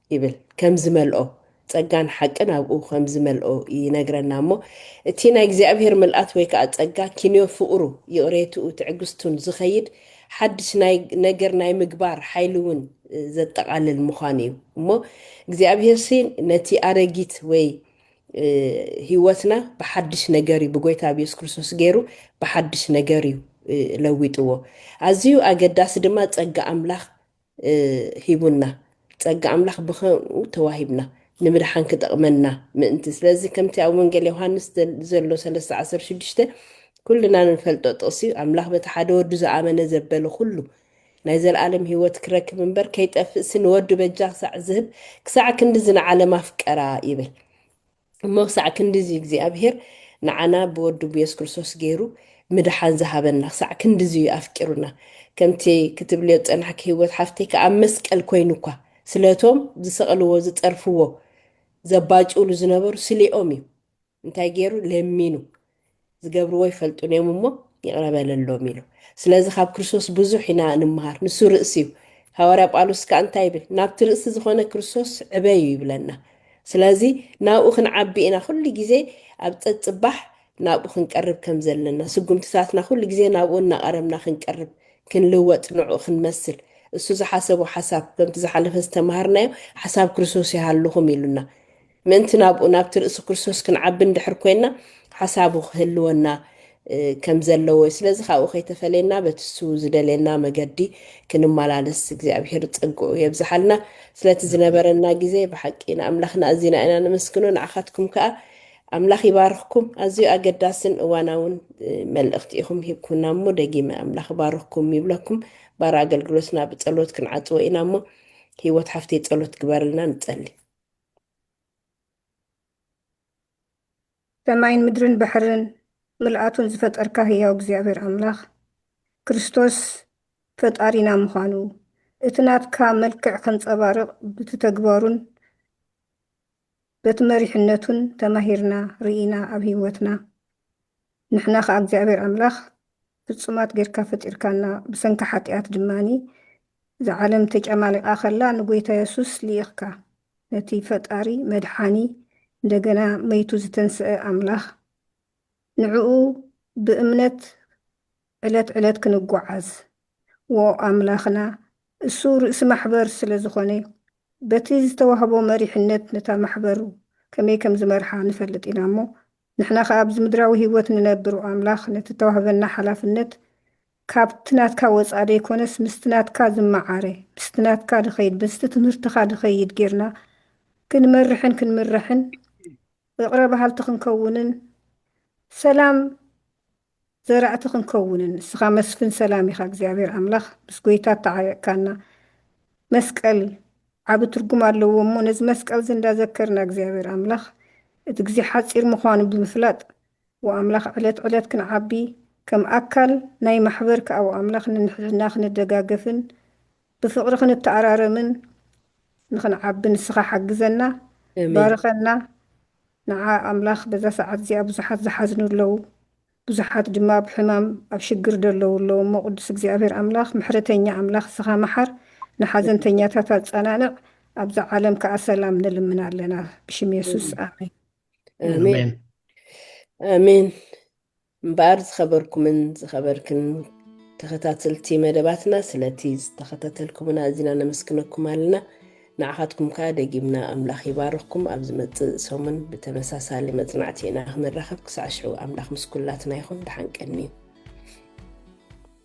ይብል ከም ዝመልኦ ጸጋን ሓቅን ኣብኡ ከም ዝመልኦ ይነግረና እሞ እቲ ናይ እግዚኣብሔር ምልኣት ወይ ከዓ ጸጋ ኪንዮ ፍቕሩ ይቕሬትኡ ትዕግስቱን ዝኸይድ ሓድሽ ናይ ነገር ናይ ምግባር ሓይሊ እውን ዘጠቓልል ምዃኑ እዩ እሞ እግዚኣብሔርሲ ነቲ ኣረጊት ወይ ህይወትና ብሓድሽ ነገር እዩ ብጎይታ ኣብ የሱስ ክርስቶስ ገይሩ ብሓድሽ ነገር እዩ ለዊጥዎ ኣዝዩ ኣገዳሲ ድማ ጸጋ ኣምላኽ ሂቡና ጸጋ ኣምላኽ ብኸምኡ ተዋሂብና ንምድሓን ክጠቕመና ምእንቲ ስለዚ ከምቲ ኣብ ወንጌል ዮሃንስ ዘሎ ሰለስተ ዓሰርተ ሽዱሽተ ኩልና ንፈልጦ ጥቕሲ እዩ ኣምላኽ በቲ ሓደ ወዱ ዝኣመነ ዘበለ ኩሉ ናይ ዘለኣለም ህይወት ክረክብ እምበር ከይጠፍእሲ ንወዱ በጃ ክሳዕ ዝህብ ክሳዕ ክንድዚ ንዓለም ኣፍቀራ ይብል እሞ ክሳዕ ክንድዚ እግዚኣብሄር ንዓና ብወዱ ብየሱስ ክርስቶስ ገይሩ ምድሓን ዝሃበና ክሳዕ ክንድዚ እዩ ኣፍቂሩና ከምቲ ክትብልዮ ዝጸናሕኪ ህይወት ሓፍተይ ከኣ መስቀል ኮይኑ እኳ ስለቶም ዝሰቕልዎ ዝጸርፍዎ ዘባጭውሉ ዝነበሩ ስሌኦም እዩ እንታይ ገይሩ ለሚኑ ዝገብርዎ ኣይፈልጡን እዮም እሞ ይቕረ በለሎም ኢሉ። ስለዚ ካብ ክርስቶስ ብዙሕ ኢና ንምሃር። ንሱ ርእሲ እዩ። ሃዋርያ ጳውሎስ ከዓ እንታይ ይብል? ናብቲ ርእሲ ዝኾነ ክርስቶስ ዕበዩ ይብለና። ስለዚ ናብኡ ክንዓቢ ኢና ኩሉ ግዜ ኣብ ጸጽባሕ ናብኡ ክንቀርብ ከም ዘለና ስጉምትታትና ኩሉ ግዜ ናብኡ እናቐረብና ክንቀርብ ክንልወጥ ንዕኡ ክንመስል እሱ ዝሓሰቦ ሓሳብ ከምቲ ዝሓለፈ ዝተምሃርናዮ ሓሳብ ክርስቶስ ይሃልኹም ኢሉና ምእንቲ ናብኡ ናብቲ ርእሲ ክርስቶስ ክንዓቢ እንድሕር ኮይንና ሓሳቡ ክህልወና ከም ዘለዎ እዩ። ስለዚ ካብኡ ከይተፈለየና በቲ እሱ ዝደልየና መገዲ ክንመላለስ እግዚኣብሄር ጸግኡ የብዝሓልና። ስለቲ ዝነበረና ግዜ ብሓቂ ንኣምላኽና ኣዚና ኢና ነመስግኖ። ንዓኻትኩም ከኣ ኣምላኽ ይባርኽኩም። ኣዝዩ ኣገዳስን እዋናውን እ፣ መልእኽቲ ኢኹም ሂብኩምና እሞ ደጊመ ኣምላኽ ይባርኽኩም ይብለኩም። ባር ኣገልግሎትና ብጸሎት ክንዓጽዎ ኢና እሞ ህይወት ሓፍተይ ጸሎት ግበርልና ንጸሊ። ሰማይን ምድርን ባሕርን ምልኣቱን ዝፈጠርካ ህያው እግዚኣብሔር ኣምላኽ ክርስቶስ ፈጣሪና ምዃኑ እቲ ናትካ መልክዕ ከንጸባርቕ ብቲ ተግባሩን በቲ መሪሕነቱን ተማሂርና ርኢና ኣብ ህይወትና ንሕና ከኣ እግዚኣብሔር ኣምላኽ ፍጹማት ጌርካ ፈጢርካና ብሰንኪ ሓጥያት ድማ እዛ ዓለም ተጫማሊቃ ከላ ንጎይታ የሱስ ሊኢኽካ ነቲ ፈጣሪ መድሓኒ እንደገና መይቱ ዝተንሰኣ ኣምላኽ ንዕኡ ብእምነት ዕለት ዕለት ክንጎዓዝ ዎ ኣምላኽና እሱ ርእሲ ማሕበር ስለ ዝኾነ በቲ ዝተዋህቦ መሪሕነት ነታ ማሕበር ከመይ ከም ዝመርሓ ንፈልጥ ኢና እሞ ንሕና ከኣ ኣብዚ ምድራዊ ህይወት ንነብር ኣምላኽ ነቲ እተዋህበና ሓላፍነት ካብቲ ናትካ ወጻኢ ዘይኮነስ ምስቲ ናትካ ዝመዓረ ምስቲ ናትካ ድኸይድ ምስቲ ትምህርትኻ ድኸይድ ጌርና ክንመርሕን ክንምራሕን እቕረ ባሃልቲ ክንከውንን ሰላም ዘራእቲ ክንከውንን ንስኻ መስፍን ሰላም ኢኻ እግዚኣብሔር ኣምላኽ ምስ ጎይታ ኣተዓቢዕካና መስቀል ዓቢ ትርጉም ኣለዎ እሞ ነዚ መስቀል እዚ እንዳዘከርና እግዚኣብሔር ኣምላኽ እቲ ግዜ ሓጺር ምዃኑ ብምፍላጥ ወኣምላኽ ዕለት ዕለት ክንዓቢ ከም ኣካል ናይ ማሕበር ከኣ ወኣምላኽ ንንሕድሕድና ክንደጋገፍን ብፍቕሪ ክንተኣራረምን ንኽንዓቢ ንስኻ ሓግዘና ኣሜን ባርኸና ንዓ ኣምላኽ በዛ ሰዓት እዚኣ ብዙሓት ዝሓዝኑ ኣለዉ ብዙሓት ድማ ኣብ ሕማም ኣብ ሽግር ደለዉ ኣለዉ እሞ ቅዱስ እግዚኣብሔር ኣምላኽ ምሕረተኛ ኣምላኽ እስኻ መሓር ንሓዘንተኛታት ኣጸናንዕ ኣብዛ ዓለም ከኣ ሰላም ንልምን ኣለና ብሽም የሱስ ኣሜን ኣሜን ኣሜን ኣሜን እምበኣር ዝኸበርኩምን ዝኸበርክን ተኸታተልቲ መደባትና ስለቲ ዝተኸታተልኩምና ኣዚና ነመስግነኩም ኣለና። ንዓኻትኩም ከኣ ደጊምና ኣምላኽ ይባርኽኩም። ኣብ ዝመጽእ ሰሙን ብተመሳሳሊ መጽናዕቲ ኢና ክንራኸብ። ክሳዕ ሽዑ ኣምላኽ ምስ ኩላትና ይኹን። ደሓን ቀንዩ።